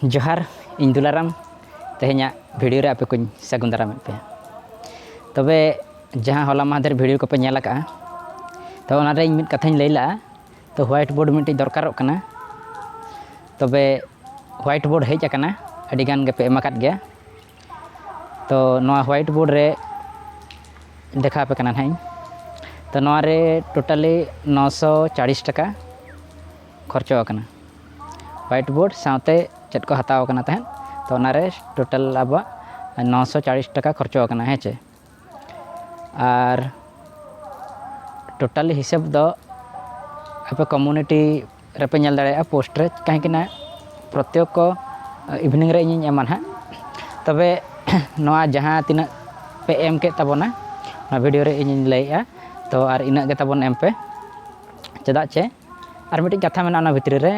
ᱡᱚᱦᱟᱨ ᱤᱧ ᱫᱩᱞᱟᱨᱟᱢ ᱛᱮᱦᱮᱧᱟᱜ ᱵᱷᱤᱰᱤᱭᱳ ᱨᱮ ᱟᱯᱮ ᱠᱚᱧ ᱥᱟᱹᱜᱩᱱ ᱫᱟᱨᱟᱢᱮᱫ ᱯᱮᱭᱟ ᱛᱚᱵᱮ ᱡᱟᱦᱟᱸ ᱦᱚᱞᱟ ᱢᱟᱦᱫᱮᱨ ᱵᱷᱤᱰᱤᱭᱳ ᱠᱚᱯᱮ ᱧᱮᱞ ᱟᱠᱟᱜᱼᱟ ᱛᱚ ᱚᱱᱟᱨᱮ ᱤᱧ ᱢᱤᱫ ᱠᱟᱛᱷᱟᱧ ᱞᱟᱹᱭ ᱞᱟᱜᱼᱟ ᱛᱚ ᱦᱳᱣᱟᱭᱤᱴ ᱵᱳᱨᱰ ᱢᱤᱫᱴᱤᱡ ᱫᱚᱨᱠᱟᱨᱚᱜ ᱠᱟᱱᱟ ᱛᱚᱵᱮ ᱦᱳᱣᱟᱭᱤᱴ ᱵᱳᱨᱰ ᱦᱮᱡ ᱟᱠᱟᱱᱟ ᱟᱹᱰᱤ ᱜᱟᱱ ᱜᱮᱯᱮ ᱮᱢ ᱟᱠᱟᱫ ᱜᱮᱭᱟ ᱛᱚ ᱱᱚᱣᱟ ᱦᱳᱣᱟᱭᱤᱴ ᱵᱳᱨᱰ ᱨᱮ ᱫᱮᱠᱷᱟᱣ ᱟᱯᱮ ᱠᱟᱱᱟ ᱱᱟᱦᱟᱜ ᱤᱧ ᱛᱚ ᱱᱚᱣᱟᱨᱮ ᱴᱳᱴᱟᱞᱤ ᱱᱚᱥᱚ ᱪᱟᱞᱞᱤᱥ ᱴᱟᱠᱟ ᱠᱷᱚᱨᱪᱚ ᱟᱠᱟᱱᱟ ᱦᱚᱣᱟᱭᱤᱴ ᱵᱳᱨᱰ ᱥᱟᱶᱛᱮ ᱪᱮᱫ ᱠᱚ ᱦᱟᱛᱟᱣ ᱟᱠᱟᱱᱟ ᱛᱟᱦᱮᱸᱫ ᱛᱚ ᱚᱱᱟᱨᱮ ᱴᱳᱴᱟᱞ ᱟᱵᱚᱣᱟᱜ ᱱᱚᱥᱚ ᱪᱟᱞᱤᱥ ᱴᱟᱠᱟ ᱠᱷᱚᱨᱪᱚ ᱟᱠᱟᱱᱟ ᱦᱮᱸ ᱪᱮ ᱟᱨ ᱴᱳᱴᱟᱞ ᱦᱤᱥᱟᱹᱵ ᱫᱚ ᱟᱯᱮ ᱠᱚᱢᱩᱱᱤᱴᱤ ᱨᱮᱯᱮ ᱧᱮᱞ ᱫᱟᱲᱮᱭᱟᱜᱼᱟ ᱯᱳᱥᱴ ᱨᱮ ᱠᱟᱹᱦᱤᱸᱠᱤ ᱱᱟᱜ ᱯᱨᱚᱛᱮᱠ ᱠᱚ ᱤᱵᱷᱤᱱᱤᱝ ᱨᱮ ᱤᱧᱤᱧ ᱮᱢᱟ ᱱᱟᱦᱟᱜ ᱛᱚᱵᱮ ᱱᱚᱣᱟ ᱡᱟᱦᱟᱸ ᱛᱤᱱᱟᱹᱜ ᱯᱮ ᱮᱢ ᱠᱮᱫ ᱛᱟᱵᱚᱱᱟ ᱚᱱᱟ ᱵᱷᱤᱰᱤᱭᱳ ᱨᱮ ᱤᱧᱤᱧ ᱞᱟᱹᱭᱮᱫᱼᱟ ᱛᱚ ᱟᱨ ᱤᱱᱟᱹᱜ ᱜᱮ ᱛᱟᱵᱚᱱ ᱮᱢ ᱯᱮ ᱪᱮᱫᱟᱜ ᱪᱮ ᱟᱨ ᱢᱤᱫᱴᱤᱡ ᱠᱟᱛᱷᱟ ᱢᱮᱱᱟᱜᱼᱟ ᱚᱱᱟ ᱵᱷᱤᱛᱨᱤ ᱨᱮ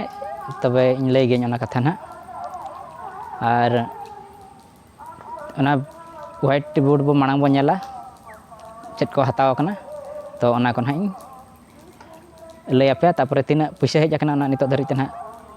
ᱛᱚᱵᱮ ᱤᱧ ᱞᱟᱹᱭ ᱜᱤᱭᱟᱹᱧ ᱚᱱᱟ ᱠᱟᱛᱷᱟ ᱱᱟᱦᱟᱜ ᱟᱨ ᱚᱱᱟ ᱦᱳᱣᱟᱭᱤᱴ ᱵᱳᱨᱰ ᱵᱚ ᱢᱟᱲᱟᱝ ᱵᱚᱱ ᱧᱮᱞᱟ ᱪᱮᱫ ᱠᱚ ᱦᱟᱛᱟᱣ ᱠᱟᱱᱟ ᱛᱚ ᱚᱱᱟ ᱠᱚ ᱱᱟᱦᱟᱜ ᱤᱧ ᱞᱟᱹᱭ ᱟᱯᱮᱭᱟ ᱛᱟᱨᱯᱚᱨᱮ ᱛᱤᱱᱟᱹᱜ ᱯᱩᱭᱥᱟᱹ ᱦᱮᱡ ᱠᱟᱱᱟ ᱚᱱᱟ ᱱᱤᱛᱚᱜ ᱫᱷᱟᱹᱨᱤᱡ ᱛᱮ ᱱᱟᱦᱟᱜ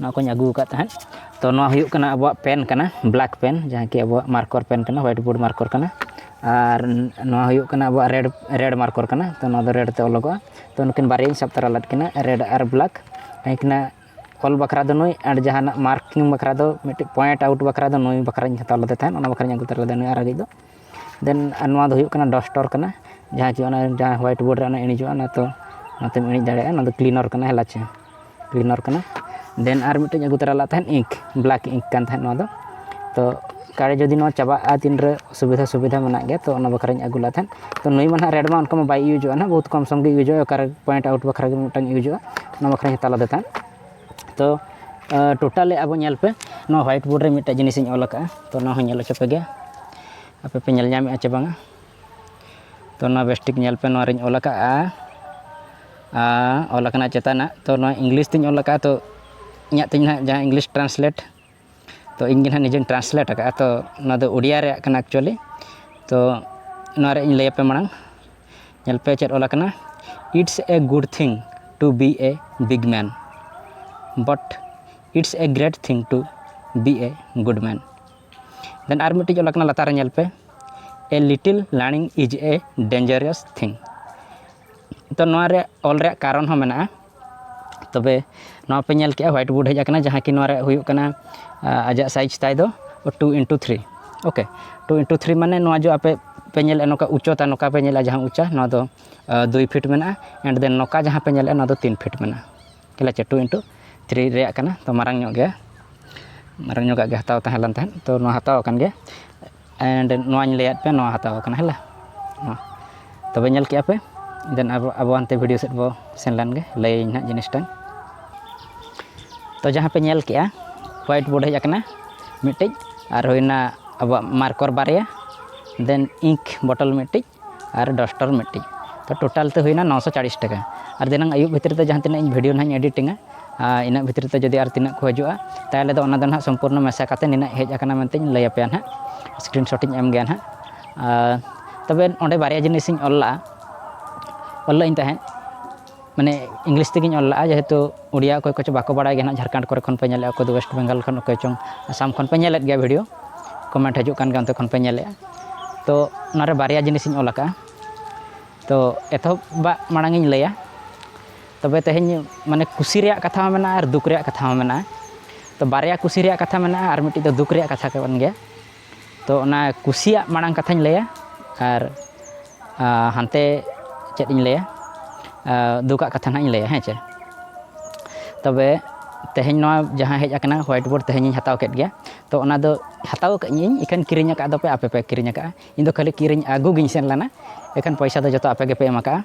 ᱱᱚᱣᱟ ᱠᱚᱧ ᱟᱹᱜᱩ ᱟᱠᱟᱫ ᱛᱟᱦᱮᱸᱫ ᱛᱚ ᱱᱚᱣᱟ ᱦᱩᱭᱩᱜ ᱠᱟᱱᱟ ᱟᱵᱚᱣᱟᱜ ᱯᱮᱱ ᱠᱟᱱᱟ ᱵᱞᱮᱠ ᱯᱮᱱ ᱡᱟᱦᱟᱸ ᱠᱤ ᱟᱵᱚᱣᱟᱜ ᱢᱟᱨᱠᱚᱨ ᱯᱮᱱ ᱠᱟᱱᱟ ᱦᱳᱣᱟᱭᱤᱴ ᱵᱳᱨᱰ ᱢᱟᱨᱠᱚᱨ ᱠᱟᱱᱟ ᱟᱨ ᱱᱚᱣᱟ ᱦᱩᱭᱩᱜ ᱠᱟᱱᱟ ᱟᱵᱚᱣᱟᱜ ᱨᱮᱰ ᱨᱮᱰ ᱢᱟᱨᱠᱚᱨ ᱠᱟᱱᱟ ᱛᱚ ᱱᱚᱣᱟ ᱫᱚ ᱨᱮᱰ ᱛᱮ ᱚᱞᱚᱜᱚᱜᱼᱟ ᱛᱚ ᱱᱩᱠᱤᱱ ᱵᱟᱨᱭᱟᱧ ᱥᱟᱵ ᱛᱟᱨᱟ ᱞᱮᱫ ᱠᱤᱱᱟ ᱨᱮᱰ ᱟᱨ ᱵᱞᱮᱠ ᱩᱱᱠᱤᱱᱟᱜ ᱚᱞ ᱵᱟᱠᱷᱨᱟ ᱫᱚ ᱱᱩᱭ ᱟᱨ ᱡᱟᱦᱟᱱᱟᱜ ᱢᱟᱨᱠᱤᱝ ᱵᱟᱠᱷᱨᱟ ᱫᱚ ᱢᱤᱫᱴᱤᱡ ᱯᱚᱭᱮᱱᱴ ᱟᱣᱩᱴ ᱵᱟᱠᱷᱨᱟ ᱫᱚ ᱱᱩᱭ ᱵᱟᱠᱷᱨᱟᱧ ᱦᱟᱛᱟᱣ ᱞᱮᱫᱮ ᱛᱟᱦᱮᱸᱫ ᱚᱱᱟ ᱵᱟᱠᱷᱨᱟᱧ ᱟᱹᱜᱩ ᱛᱟᱨᱟ ᱞᱮᱫᱮᱭᱟ ᱱᱩᱭ ᱟᱨᱟᱜᱤᱡ ᱫᱚ ᱫᱮᱱ ᱟᱨ ᱱᱚᱣᱟ ᱫᱚ ᱦᱩᱭᱩᱜ ᱠᱟᱱᱟ ᱰᱚᱥᱴᱚᱨ ᱠᱟᱱᱟ ᱡᱟᱦᱟᱸ ᱪᱮ ᱚᱱᱟ ᱡᱟᱦᱟᱸ ᱦᱳᱣᱟᱭᱤᱴ ᱵᱳᱨᱰ ᱨᱮ ᱚᱱᱟ ᱤᱬᱤᱡᱚᱜᱼᱟ ᱚᱱᱟ ᱛᱚ ᱚᱱᱟᱛᱮᱢ ᱤᱬᱤᱡ ᱫᱟᱲᱮᱭᱟᱜᱼᱟ ᱚᱱᱟ ᱫᱚ ᱠᱞᱤᱱᱚᱨ ᱠᱟᱱᱟ ᱦᱮᱞᱟ ᱪᱮ ᱠᱞᱤᱱᱚᱨ ᱠᱟᱱᱟ ᱫᱮᱱ ᱟᱨ ᱢᱤᱫᱴᱮᱡ ᱟᱹᱜᱩ ᱛᱚᱨᱟ ᱞᱮᱫ ᱛᱟᱦᱮᱱ ᱤᱝᱠ ᱵᱞᱮᱠ ᱤᱝᱠ ᱠᱟᱱ ᱛᱟᱦᱮᱸᱫ ᱱᱚᱣᱟ ᱫᱚ ᱛᱚ ᱚᱠᱟᱨᱮ ᱡᱩᱫᱤ ᱱᱚᱣᱟ ᱪᱟᱵᱟᱜᱼᱟ ᱛᱤᱱ ᱨᱮ ᱚᱥᱩᱵᱤᱫᱷᱟ ᱥᱩᱵᱤᱫᱷᱟ ᱢᱮᱱᱟᱜ ᱜᱮᱭᱟ ᱛᱚ ᱚᱱᱟ ᱵᱟᱠᱷᱨᱟᱧ ᱟᱹᱜᱩ ᱞᱮᱫ ᱛᱟᱦᱮᱸᱫ ᱛᱚ ᱱᱩᱭ ᱢᱟ ᱦᱟᱸᱜ ᱨᱮᱰ ᱢᱟ ᱚᱱᱠᱟ ᱢᱟ ᱵᱟᱭ ᱤᱭᱩᱡᱚᱜᱼᱟ ᱦᱟᱸᱜ ᱵᱚᱦᱩᱫ ᱠᱚᱢ ᱥᱚᱢ ᱜᱮ ᱤᱭᱩᱡᱚᱜᱼᱟ ᱚᱠᱟᱨᱮ ᱯᱚᱭᱮᱱᱴ ᱟᱣᱩᱴ ᱵᱟᱠᱷᱨᱟ ᱜᱮ ᱢᱤᱫᱴᱟᱝ ᱤᱭᱩᱡᱚᱜᱼᱟ ᱚᱱᱟ ᱵᱟᱠᱷᱨᱟᱧ ᱦᱟᱛᱟᱣ ᱞᱮᱫᱮ ᱛᱟᱦᱮᱸᱫ ᱛᱚ ᱴᱳᱴᱟᱞᱤ ᱟᱵᱚ ᱧᱮᱞ ᱯᱮ ᱱᱚᱣᱟ ᱦᱳᱣᱟᱭᱤᱴ ᱵᱳᱨᱰ ᱨᱮ ᱢᱤᱫᱴᱮᱡ ᱡᱤᱱᱤᱥ ᱤᱧ ᱚᱞ ᱟᱠᱟᱫᱼᱟ ᱛᱚ ᱱᱚᱣᱟ ᱦᱚᱸ ᱧᱮᱞ ᱦᱚᱪᱚ ᱯᱮ ᱜᱮ ᱟᱯᱮ ᱯᱮ ᱧᱮᱞ ᱧᱟᱢᱮᱫᱼᱟ ᱪᱮ ᱵᱟᱝᱟ ᱛᱚ ᱱᱚᱣᱟ ᱵᱮᱥ ᱴᱷᱤᱠ ᱧᱮᱞ ᱯᱮ ᱱᱚᱣᱟ ᱨᱤᱧ ᱚᱞ ᱟᱠᱟᱫᱼᱟ ᱚᱞ ᱟᱠᱟᱱᱟ ᱪᱮᱛᱟᱱᱟᱜ ᱛᱚ ᱱᱚᱣᱟ ᱤᱝᱞᱤᱥ ᱛᱤᱧ ᱚᱞ ᱟᱠᱟᱫᱼᱟ ᱛᱚ ᱤᱧᱟᱹᱜ ᱛᱤᱧ ᱦᱟᱸᱜ ᱡᱟᱦᱟᱸ ᱤᱝᱞᱤᱥ ᱴᱨᱟᱱᱥᱞᱮᱴ ᱛᱚ ᱤᱧ ᱜᱮ ᱱᱟᱦᱟᱜ ᱱᱤᱡᱮᱧ ᱴᱨᱟᱱᱥᱞᱮᱴ ᱟᱠᱟᱫᱼᱟ ᱛᱚ ᱚᱱᱟ ᱫᱚ ᱳᱰᱤᱭᱟ ᱨᱮᱭᱟᱜ ᱠᱟᱱᱟ ᱮᱠᱪᱩᱭᱮᱞᱤ ᱛᱚ ᱱᱚᱣᱟ ᱨᱮᱭᱟᱜ ᱤᱧ ᱞᱟᱹᱭ ᱟᱯᱮ ᱢᱟᱲᱟᱝ ᱧᱮᱞ ᱯᱮ ᱪᱮᱫ ᱚᱞ ᱟᱠᱟᱱᱟ it's a good thing to be a big man but it's a great thing to be a good man ᱫᱮᱱ ᱟᱨ ᱢᱤᱫᱴᱤᱡ ᱚᱞ ᱟᱠᱟᱱᱟ ᱞᱟᱛᱟᱨ ᱨᱮ ᱧᱮᱞ ᱯᱮ a little learning is a dangerous thing ᱛᱚ ᱱᱚᱣᱟ ᱨᱮᱭᱟᱜ ᱚᱞ ᱨᱮᱭᱟᱜ ᱠᱟᱨᱚᱱ ᱦᱚᱸ ᱢᱮᱱᱟᱜᱼᱟ ᱛᱚᱵᱮ ᱱᱚᱣᱟ ᱯᱮ ᱧᱮᱞ ᱠᱮᱜᱼᱟ ᱦᱳᱣᱟᱭᱤᱴ ᱵᱳᱨᱰ ᱦᱮᱡ ᱟᱠᱟᱱᱟ ᱡᱟᱦᱟᱸ ᱠᱤ ᱱᱚᱣᱟ ᱨᱮ ᱦᱩᱭᱩᱜ ᱠᱟᱱᱟ ᱟᱡᱟᱜ ᱥᱟᱭᱤᱡᱽ ᱛᱟᱭ ᱫᱚ two into three okay two into three ᱢᱟᱱᱮ ᱱᱚᱣᱟ ᱡᱮ ᱟᱯᱮ ᱯᱮ ᱧᱮᱞᱮᱜᱼᱟ ᱱᱚᱝᱠᱟ ᱩᱪᱪᱚᱛᱟ ᱱᱚᱝᱠᱟ ᱯᱮ ᱧᱮᱞᱮᱜᱼᱟ ᱡᱟᱦᱟᱸ ᱩᱪᱪᱟ ᱱᱚᱣᱟ ᱫᱚ ᱫᱩᱭ ᱯᱷᱤᱴ ᱢᱮᱱᱟᱜᱼᱟ ᱮᱱᱰ ᱫᱮᱱ ᱱᱚᱝᱠᱟ ᱡᱟᱦᱟᱸ ᱯᱮ ᱧᱮᱞᱮᱜᱼᱟ ᱱᱚᱣᱟ ᱫᱚ ᱛᱤᱱ ᱯᱷᱤᱴ ᱢᱮᱱᱟᱜᱼᱟ ᱴᱷᱤᱠ ᱟᱪᱷᱮ ᱴᱩ ᱤᱱᱴᱩ ᱛᱷᱨᱤ ᱨᱮᱭᱟᱜ ᱠᱟᱱᱟ ᱛᱚ ᱢᱟᱨᱟᱝ ᱧᱚᱜ ᱜᱮᱭᱟ ᱢᱟᱨᱟᱝ ᱧᱚᱜᱟᱜ ᱜᱮ ᱦᱟᱛᱟᱣ ᱛᱟᱦᱮᱸ ᱞᱮᱱ ᱛᱟᱦᱮᱸᱫ ᱛᱚ ᱱᱚᱣᱟ ᱦᱟᱛᱟᱣ ᱟᱠᱟᱱ ᱜᱮᱭᱟ ᱮᱱᱰ ᱱᱚᱣᱟᱧ ᱞᱟᱹᱭᱟᱫ ᱯᱮᱭᱟ ᱱᱚᱣᱟ ᱦᱟᱛᱟᱣ ᱠᱟᱱᱟ ᱦᱮᱞᱟ ᱱᱚᱣᱟ ᱛᱚᱵᱮ ᱧᱮᱞ ᱠᱮᱜᱼᱟ ᱯᱮ ᱫᱮᱱ ᱟᱵᱚ ᱟᱵᱚ ᱦᱟᱱᱛᱮ ᱵᱷᱤᱰᱤᱭᱳ ᱥᱮᱫ ᱵᱚ ᱥᱮᱱ ᱞᱮᱱ ᱜᱮ ᱞᱟᱹᱭᱟᱹᱧ ᱦᱟᱸᱜ ᱡᱤᱱᱤᱥᱴᱟ ᱛᱚ ᱡᱟᱦᱟᱸ ᱯᱮ ᱧᱮᱞ ᱠᱮᱜᱼᱟ ᱦᱳᱣᱟᱭᱤᱴ ᱵᱳᱨᱰ ᱦᱮᱡ ᱟᱠᱟᱱᱟ ᱢᱤᱫᱴᱤᱡ ᱟᱨ ᱦᱩᱭᱱᱟ ᱟᱵᱚᱣᱟᱜ ᱢᱟᱨᱠᱚᱨ ᱵᱟᱨᱭᱟ ᱫᱮᱱ ᱤᱝᱠ ᱵᱚᱴᱚᱞ ᱢᱤᱫᱴᱤᱡ ᱟᱨ ᱰᱚᱥᱴᱚᱨ ᱢᱤᱫᱴᱤᱡ ᱛᱚ ᱴᱳᱴᱟᱞ ᱛᱮ ᱦᱩᱭᱱᱟ ᱱᱚᱥᱚ ᱪᱟᱞᱤᱥ ᱴᱟᱠᱟ ᱟᱨ ᱫᱷᱤᱱᱟᱹᱝ ᱟᱹᱭᱩᱵ ᱵᱷᱤᱛᱨᱤ ᱛᱮ ᱡᱟᱦᱟᱸ ᱛᱤᱱᱟᱹᱜ ᱤᱧ ᱵᱷᱤᱰᱭᱳ ᱱᱟᱦᱟᱜ ᱤᱧ ᱮᱰᱤᱴᱤᱝᱟ ᱟᱨ ᱤᱱᱟᱹᱜ ᱵᱷᱤᱛᱨᱤ ᱛᱮ ᱡᱩᱫᱤ ᱟᱨ ᱛᱤᱱᱟᱹᱜ ᱠᱚ ᱦᱤᱡᱩᱜᱼᱟ ᱛᱟᱦᱚᱞᱮ ᱫᱚ ᱚᱱᱟ ᱫᱚ ᱱᱟᱦᱟᱜ ᱥᱚᱢᱯᱩᱨᱱᱚ ᱢᱮᱥᱟ ᱠᱟᱛᱮᱫ ᱱᱤᱱᱟᱹᱜ ᱦᱮᱡ ᱟᱠᱟᱱᱟ ᱢᱮᱱᱛᱤᱧ ᱞᱟᱹᱭ ᱟᱯᱮᱭᱟ ᱱᱟᱦᱟᱜ ᱥᱠᱨᱤᱱ ᱥᱚᱴ ᱤᱧ ᱮᱢ ᱜᱮᱭᱟ ᱱᱟᱦᱟᱜ ᱟᱨ ᱛᱚᱵᱮ ᱚᱸᱰᱮ ᱵᱟᱨᱭᱟ ᱡᱤᱱᱤᱥᱤᱧ ᱚᱞ ᱞᱟᱜᱼᱟ ᱚᱞ ᱞᱟᱜ ᱟᱹᱧ ᱛᱟᱦᱮᱸᱫ ᱢᱟᱱᱮ ᱤᱝᱞᱤᱥ ᱛᱮᱜᱮᱧ ᱚᱞ ᱞᱟᱜᱼᱟ ᱡᱮᱦᱮᱛᱩ ᱩᱲᱤᱭᱟ ᱚᱠᱚᱭ ᱠᱚᱪᱚ ᱵᱟᱠᱚ ᱵᱟᱲᱟᱭ ᱜᱮᱭᱟ ᱦᱟᱸᱜ ᱡᱷᱟᱲᱠᱷᱚᱸᱰ ᱠᱚᱨᱮ ᱠᱷᱚᱱ ᱯᱮ ᱧᱮᱞᱮᱫᱼᱟ ᱚᱠᱚᱭ ᱫᱚ ᱚᱭᱮᱥᱴ ᱵᱮᱝᱜᱚᱞ ᱠᱷᱚᱱ ᱚᱠᱚᱭ ᱪᱚᱝ ᱟᱥᱟᱢ ᱠᱷᱚᱱ ᱯᱮ ᱧᱮᱞᱮᱫ ᱜᱮᱭᱟ ᱵᱷᱤᱰᱭᱳ ᱠᱚᱢᱮᱱᱴ ᱦᱤᱡᱩᱜ ᱠᱟᱱ ᱜᱮᱭᱟ ᱚᱱᱛᱮ ᱠᱷᱚᱱ ᱯᱮ ᱧᱮᱞᱮᱫᱼᱟ ᱛᱳ ᱚᱱᱟᱨᱮ ᱵᱟᱨᱭᱟ ᱡᱤᱱᱤᱥᱤᱧ ᱚᱞ ᱟᱠᱟᱫᱼᱟ ᱛᱳ ᱮᱛᱚᱦᱚᱵᱟᱜ ᱢᱟᱲᱟᱝ ᱤᱧ ᱞᱟᱹᱭᱟ ᱛᱚᱵᱮ ᱛᱮᱦᱮᱧ ᱢᱟᱱᱮ ᱠᱩᱥᱤ ᱨᱮᱭᱟᱜ ᱠᱟᱛᱷᱟ ᱦᱚᱸ ᱢᱮᱱᱟᱜᱼᱟ ᱟᱨ ᱫᱩᱠ ᱨᱮᱭᱟᱜ ᱠᱟᱛᱷᱟ ᱦᱚᱸ ᱢᱮᱱᱟᱜᱼᱟ ᱛᱳ ᱵᱟᱨᱭᱟ ᱠᱩᱥᱤ ᱨᱮᱭᱟᱜ ᱠᱟᱛᱷᱟ ᱢᱮᱱᱟᱜᱼᱟ ᱟᱨ ᱢᱤᱫᱴᱤᱡ ᱫᱚ ᱫᱩᱠ ᱨᱮᱭᱟᱜ ᱠᱟᱛᱷᱟ ᱠᱟᱱ ᱜᱮᱭᱟ ᱛᱚ ᱚᱱᱟ ᱠᱩᱥᱤᱭᱟᱜ ᱢᱟᱲᱟᱝ ᱠᱟᱛᱷᱟᱧ ᱞᱟᱹᱭᱟ ᱟᱨ ᱦᱟᱱᱛᱮ ᱪᱮᱫ ᱤᱧ ᱞᱟᱹᱭᱟ ᱫᱩᱠᱟᱜ ᱠᱟᱛᱷᱟ ᱱᱟᱦᱟᱜ ᱤᱧ ᱞᱟᱹᱭᱟ ᱦᱮᱸ ᱪᱮ ᱛᱚᱵᱮ ᱛᱮᱦᱮᱧ ᱱᱚᱣᱟ ᱡᱟᱦᱟᱸ ᱦᱮᱡ ᱟᱠᱟᱱᱟ ᱦᱳᱣᱟᱭᱤᱴ ᱵᱳᱨᱰ ᱛᱮᱦᱮᱧᱤᱧ ᱦᱟᱛᱟᱣ ᱠᱮᱫ ᱜᱮᱭᱟ ᱛᱚ ᱚᱱᱟ ᱫᱚ ᱦᱟᱛᱟᱣ ᱟᱠᱟᱫ ᱤᱧ ᱤᱠᱷᱟᱹᱱ ᱠᱤᱨᱤᱧ ᱟᱠᱟᱫ ᱫᱚᱯᱮ ᱟᱯᱮ ᱯᱮ ᱠᱤᱨᱤᱧ ᱟᱠᱟᱫᱼᱟ ᱤᱧ ᱫᱚ ᱠᱷᱟᱹᱞᱤ ᱠᱤᱨᱤᱧ ᱟᱹᱜᱩ ᱜᱤᱧ ᱥᱮᱱ ᱞᱮᱱᱟ ᱮᱠᱷᱟᱱ ᱯᱚᱭᱥᱟ ᱫᱚ ᱡᱚᱛᱚ ᱟᱯᱮ ᱜᱮᱯᱮ ᱮᱢ ᱟᱠᱟᱫᱼᱟ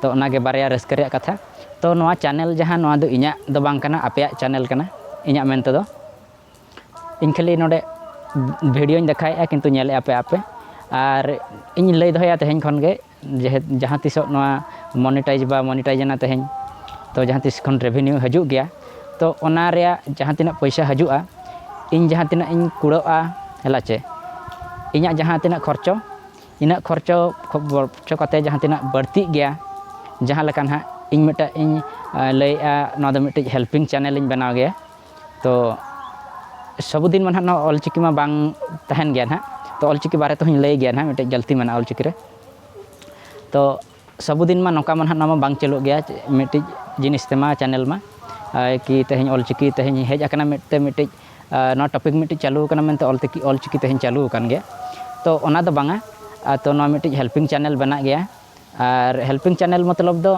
ᱛᱚ ᱚᱱᱟ ᱜᱮ ᱵᱟᱨᱭᱟ ᱨᱟᱹᱥᱠᱟᱹ ᱨᱮᱭᱟᱜ ᱠᱟᱛᱷᱟ ᱛᱚ ᱱᱚᱣᱟ ᱪᱮᱱᱮᱞ ᱡᱟᱦᱟᱸ ᱱᱚᱣᱟ ᱫᱚ ᱤᱧᱟᱹᱜ ᱫᱚ ᱵᱟᱝ ᱠᱟᱱᱟ ᱟᱯᱮᱭᱟᱜ ᱪᱮᱱᱮᱞ ᱠᱟᱱᱟ ᱤᱧᱟᱹᱜ ᱢᱮᱱ ᱛᱮᱫᱚ ᱤᱧ ᱠᱷᱟᱹᱞᱤ ᱱᱚᱰᱮ ᱵᱷᱤᱰᱭᱳᱧ ᱫᱮᱠᱷᱟᱣᱮᱫᱼᱟ ᱠᱤᱱᱛᱩ ᱧᱮᱞᱮᱫᱼᱟ ᱯᱮ ᱟᱯᱮ ᱟᱨ ᱤᱧ ᱞᱟᱹᱭ ᱫᱚᱦᱚᱭᱟ ᱛᱮᱦᱮᱧ ᱠᱷᱚᱱ ᱜᱮ ᱡᱟᱦᱟᱸ ᱛᱤᱥᱚᱜ ᱱᱚᱣᱟ ᱢᱚᱱᱤᱴᱟᱭᱤᱡᱽ ᱵᱟ ᱢᱚᱱᱤᱴᱟᱭᱤᱡᱽ ᱮᱱᱟ ᱛᱮᱦᱮᱧ ᱛᱚ ᱡᱟᱦᱟᱸ ᱛᱤᱥ ᱠᱷᱚᱱ ᱨᱮᱵᱷᱤᱱᱤᱭᱩ ᱦᱤᱡᱩᱜ ᱜᱮᱭᱟ ᱛᱚ ᱚᱱᱟ ᱨᱮᱭᱟᱜ ᱡᱟᱦᱟᱸ ᱛᱤᱱᱟᱹᱜ ᱯᱚᱭᱥᱟ ᱦᱤᱡᱩᱜᱼᱟ ᱤᱧ ᱡᱟᱦᱟᱸ ᱛᱤᱱᱟᱹᱜ ᱤᱧ ᱠᱩᱲᱟᱹᱜᱼᱟ ᱦᱮᱞᱟᱪᱮ ᱤᱧᱟᱹᱜ ᱡᱟᱦᱟᱸ ᱛᱤᱱᱟᱹᱜ ᱠᱷᱚᱨᱪᱚ ᱤᱱᱟᱹᱜ ᱠᱷᱚᱨᱪᱚ ᱠᱷᱚᱨᱪᱚ ᱠᱟᱛᱮᱫ ᱡᱟᱦᱟᱸ ᱛᱤᱱᱟᱹᱜ ᱵᱟᱹᱲᱛᱤᱜ ᱜᱮᱭᱟ ᱡᱟᱦᱟᱸ ᱞᱮᱠᱟ ᱱᱟᱦᱟᱜ ᱤᱧ ᱢᱤᱫᱴᱟᱜ ᱤᱧ ᱞᱟᱹᱭᱮᱫᱼᱟ ᱱᱚᱣᱟ ᱫᱚ ᱢᱤᱫᱴᱤᱡ ᱦᱮᱞᱯᱤᱝ ᱪᱮᱱᱮᱞ ᱤᱧ ᱵᱮᱱᱟᱣ ᱜᱮᱭᱟ ᱛᱚ ᱥᱚᱵᱽ ᱫᱤᱱ ᱢᱟ ᱱᱟᱦᱟᱜ ᱱᱚᱣᱟ ᱚᱞ ᱪᱤᱠᱤ ᱢᱟ ᱵᱟᱝ ᱛᱟᱦᱮᱱ ᱜᱮᱭᱟ ᱱᱟᱦᱟᱜ ᱛᱚ ᱚᱞ ᱪᱤᱠᱤ ᱵᱟᱨᱮ ᱛᱮᱦᱚᱧ ᱞᱟᱹᱭ ᱜᱮᱭᱟ ᱱᱟᱦᱟᱜ ᱢᱤᱫᱴᱮᱡ ᱜᱟᱹᱞᱛᱤ ᱢᱮᱱᱟᱜᱼᱟ ᱚᱞ ᱪᱤᱠᱤ ᱨᱮ ᱛᱚ ᱥᱟᱵᱩᱫᱤᱱ ᱢᱟ ᱱᱚᱝᱠᱟ ᱢᱟ ᱱᱟᱦᱟᱜ ᱱᱚᱣᱟ ᱢᱟ ᱵᱟᱝ ᱪᱟᱹᱞᱩᱜ ᱜᱮᱭᱟ ᱢᱤᱫᱴᱤᱡ ᱡᱤᱱᱤᱥ ᱛᱮᱢᱟ ᱪᱮᱱᱮᱞ ᱢᱟ ᱠᱤ ᱛᱮᱦᱮᱧ ᱚᱞ ᱪᱤᱠᱤ ᱛᱮᱦᱮᱧ ᱦᱮᱡ ᱟᱠᱟᱱᱟ ᱢᱮᱱᱛᱮ ᱢᱤᱫᱴᱤᱡ ᱱᱚᱣᱟ ᱴᱚᱯᱤᱠ ᱢᱤᱫᱴᱤᱡ ᱪᱟᱹᱞᱩ ᱟᱠᱟᱱᱟ ᱢᱮᱱᱛᱮ ᱚᱞ ᱛᱤᱠᱤ ᱚᱞ ᱪᱤᱠᱤ ᱛᱮᱦᱮᱧ ᱪᱟᱹᱞᱩ ᱟᱠᱟᱱ ᱜᱮᱭᱟ ᱛᱚ ᱚᱱᱟ ᱫᱚ ᱵᱟᱝᱟ ᱛᱚ ᱱᱚᱣᱟ ᱢᱤᱫᱴᱤᱡ ᱦᱮᱞᱯᱤᱝ ᱪᱮᱱᱮᱞ ᱵᱮᱱᱟᱜ ᱜᱮᱭᱟ ᱟᱨ ᱦᱮᱞᱯᱤᱝ ᱪᱮᱱᱮᱞ ᱢᱚᱛᱞᱚᱵ ᱫᱚ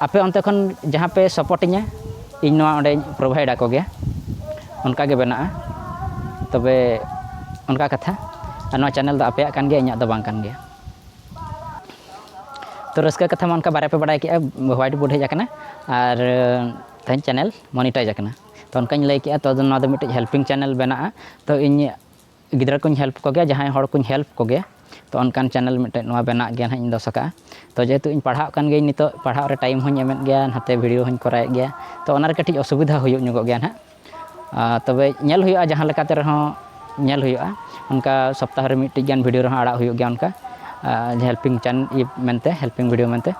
ᱟᱯᱮ ᱚᱱᱛᱮ ᱠᱷᱚᱱ ᱡᱟᱦᱟᱸ ᱯᱮ ᱥᱟᱯᱳᱨᱴ ᱤᱧᱟᱹ ᱤᱧ ᱱᱚᱣᱟ ᱚᱸᱰᱮᱧ ᱯᱨᱳᱵᱷᱟᱭᱤᱰ ᱟᱠᱚ ᱜᱮᱭᱟ ᱚᱱᱠᱟ ᱜᱮ ᱵᱮᱱᱟᱜᱼᱟ ᱛᱚᱵᱮ ᱚᱱᱠᱟ ᱠᱟᱛᱷᱟ ᱟᱨ ᱱᱚᱣᱟ ᱪᱮᱱᱮᱞ ᱫᱚ ᱟᱯᱮᱭᱟᱜ ᱠᱟᱱ ᱜᱮᱭᱟ ᱤᱧᱟᱹᱜ ᱫᱚ ᱵᱟᱝ ᱠᱟᱱ ᱜᱮᱭᱟ ᱛᱚ ᱨᱟᱹᱥᱠᱟᱹ ᱠᱟᱛᱷᱟ ᱢᱟ ᱚᱱᱠᱟ ᱵᱟᱨᱭᱟ ᱯᱮ ᱵᱟᱰᱟᱭ ᱠᱮᱜᱼᱟ ᱦᱳᱣᱟᱭᱤᱴ ᱵᱳᱨᱰ ᱦᱮᱡ ᱟᱠᱟᱱᱟ ᱟᱨ ᱛᱮᱦᱮᱧ ᱪᱮᱱᱮᱞ ᱢᱚᱱᱤᱴᱟᱭᱤᱡᱽ ᱟᱠᱟᱱᱟ ᱛᱚ ᱚᱱᱠᱟᱧ ᱞᱟᱹᱭ ᱠᱮᱜᱼᱟ ᱛᱚ ᱟᱫᱚ ᱱᱚᱣᱟ ᱫᱚ ᱢᱤᱫᱴᱤᱡ ᱦᱮᱞᱯᱤᱝ ᱪᱮᱱᱮᱞ ᱵᱮᱱᱟᱜᱼᱟ ᱛᱚ ᱤᱧ ᱜᱤᱫᱽᱨᱟᱹ ᱠᱚᱧ ᱦᱮᱞᱯ ᱠᱚᱜᱮᱭᱟ ᱡᱟᱦᱟᱸᱭ ᱦᱚᱲ ᱠᱚᱧ ᱦᱮᱞᱯ ᱠᱚᱜᱮᱭᱟ ᱛᱚ ᱚᱱᱠᱟᱱ ᱪᱮᱱᱮᱞ ᱢᱤᱫᱴᱮᱡ ᱱᱚᱣᱟ ᱵᱮᱱᱟᱜ ᱜᱮᱭᱟ ᱦᱟᱸᱜ ᱤᱧ ᱫᱚᱥ ᱠᱟᱜᱼᱟ ᱛᱚ ᱡᱮᱦᱮᱛᱩ ᱤᱧ ᱯᱟᱲᱦᱟᱜ ᱠᱟᱱ ᱜᱤᱭᱟᱹᱧ ᱱᱤᱛᱚᱜ ᱯᱟᱲᱦᱟᱜ ᱨᱮ ᱴᱟᱭᱤᱢ ᱦᱚᱸᱧ ᱮᱢᱮᱫ ᱜᱮᱭᱟ ᱱᱟᱛᱮ ᱵᱷᱤᱰᱭᱳ ᱦᱚᱸᱧ ᱠᱚᱨᱟᱣᱮᱫ ᱜᱮᱭᱟ ᱛᱚ ᱚᱱᱟᱨᱮ ᱠᱟᱹᱴᱤᱡ ᱚᱥᱩᱵᱤᱫᱷᱟ ᱦᱩᱭᱩᱜ ᱧᱚᱜᱚᱜ ᱜᱮᱭᱟ ᱦᱟᱸᱜ ᱛᱚᱵᱮ ᱧᱮᱞ ᱦᱩᱭᱩᱜᱼᱟ ᱡᱟᱦᱟᱸ ᱞᱮᱠᱟᱛᱮ ᱨᱮᱦᱚᱸ ᱧᱮᱞ ᱦᱩᱭᱩᱜᱼᱟ ᱚᱱᱠᱟ ᱥᱚᱯᱛᱟᱦᱚ ᱨᱮ ᱢᱤᱫᱴᱤᱡ ᱜᱟᱱ ᱵᱷᱤᱰᱤᱭᱳ ᱨᱮᱦᱚᱸ ᱟᱲᱟᱜ ᱦᱩᱭᱩᱜ ᱜᱮᱭᱟ ᱚᱱᱠᱟ ᱦᱮᱞᱯᱤᱝ ᱪᱮᱱ ᱤᱭᱟᱹ ᱢᱮᱱᱛᱮ ᱦᱮᱞᱯᱤᱝ ᱵᱷᱤᱰᱤᱭᱳ ᱢᱮᱱᱛᱮ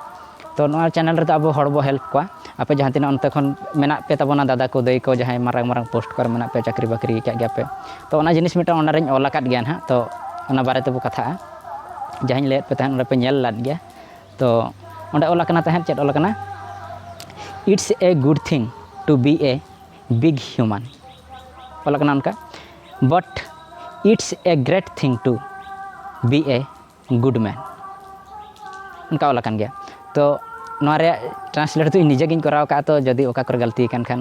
ᱛᱚ ᱱᱚᱣᱟ ᱪᱮᱱᱮᱞ ᱨᱮᱫᱚ ᱟᱵᱚ ᱦᱚᱲ ᱵᱚ ᱦᱮᱞᱯ ᱠᱚᱣᱟ ᱟᱯᱮ ᱡᱟᱦᱟᱸ ᱛᱤᱱᱟᱹᱜ ᱚᱱᱛᱮ ᱠᱷᱚᱱ ᱢᱮᱱᱟᱜ ᱯᱮ ᱛᱟᱵᱚᱱᱟ ᱫᱟᱫᱟ ᱠᱚ ᱫᱟᱹᱭ ᱠᱚ ᱡᱟᱦᱟᱸᱭ ᱢᱟᱨᱟᱝ ᱢᱟᱨᱟᱝ ᱯᱳᱥᱴ ᱠᱚᱨᱮ ᱢᱮᱱᱟᱜ ᱯᱮᱭᱟ ᱪᱟᱹᱠᱨᱤ ᱵᱟᱹᱠᱨᱤ ᱟᱠᱟᱫ ᱜᱮᱭᱟᱯᱮ ᱛᱚ ᱚᱱᱟ ᱡᱤᱱᱤᱥ ᱢᱤᱫᱴᱟᱝ ᱚᱱᱟ ᱨᱤᱧ ᱚᱞ ᱟᱠᱟᱫ ᱜᱮᱭᱟ ᱦᱟᱸᱜ ᱛᱚ ᱚᱱᱟ ᱵᱟᱨᱮ ᱛᱮᱵᱚ ᱠᱟᱛᱷᱟᱜᱼᱟ ᱡᱟᱦᱟᱸᱧ ᱞᱟᱹᱭᱟᱫ ᱯᱮ ᱛᱟᱦᱮᱸᱫ ᱚᱱᱟ ᱯᱮ ᱧᱮᱞ ᱞᱮᱫ ᱜᱮᱭᱟ ᱛᱚ ᱚᱸᱰᱮ ᱚᱞ ᱟᱠᱟᱱᱟ ᱛᱟᱦᱮᱸᱫ ᱪᱮᱫ ᱚᱞ ᱟᱠᱟᱱᱟ it's a good thing to be a big human ᱚᱞ ᱟᱠᱟᱱᱟ ᱚᱱᱠᱟ but it's a great thing to be a good man ᱚᱱᱠᱟ ᱚᱞ ᱟᱠᱟᱱ ᱜᱮᱭᱟ ᱛᱚ ᱱᱚᱣᱟ ᱨᱮᱭᱟᱜ ᱴᱨᱟᱱᱥᱞᱮᱴ ᱫᱚ ᱤᱧ ᱱᱤᱡᱮ ᱜᱤᱧ ᱠᱚᱨᱟᱣ ᱠᱟᱜᱼᱟ ᱛᱚ ᱡᱩᱫᱤ ᱚᱠᱟ ᱠᱚᱨᱮ ᱜᱟᱹᱞᱛᱤ ᱟᱠᱟᱱ ᱠᱷᱟᱱ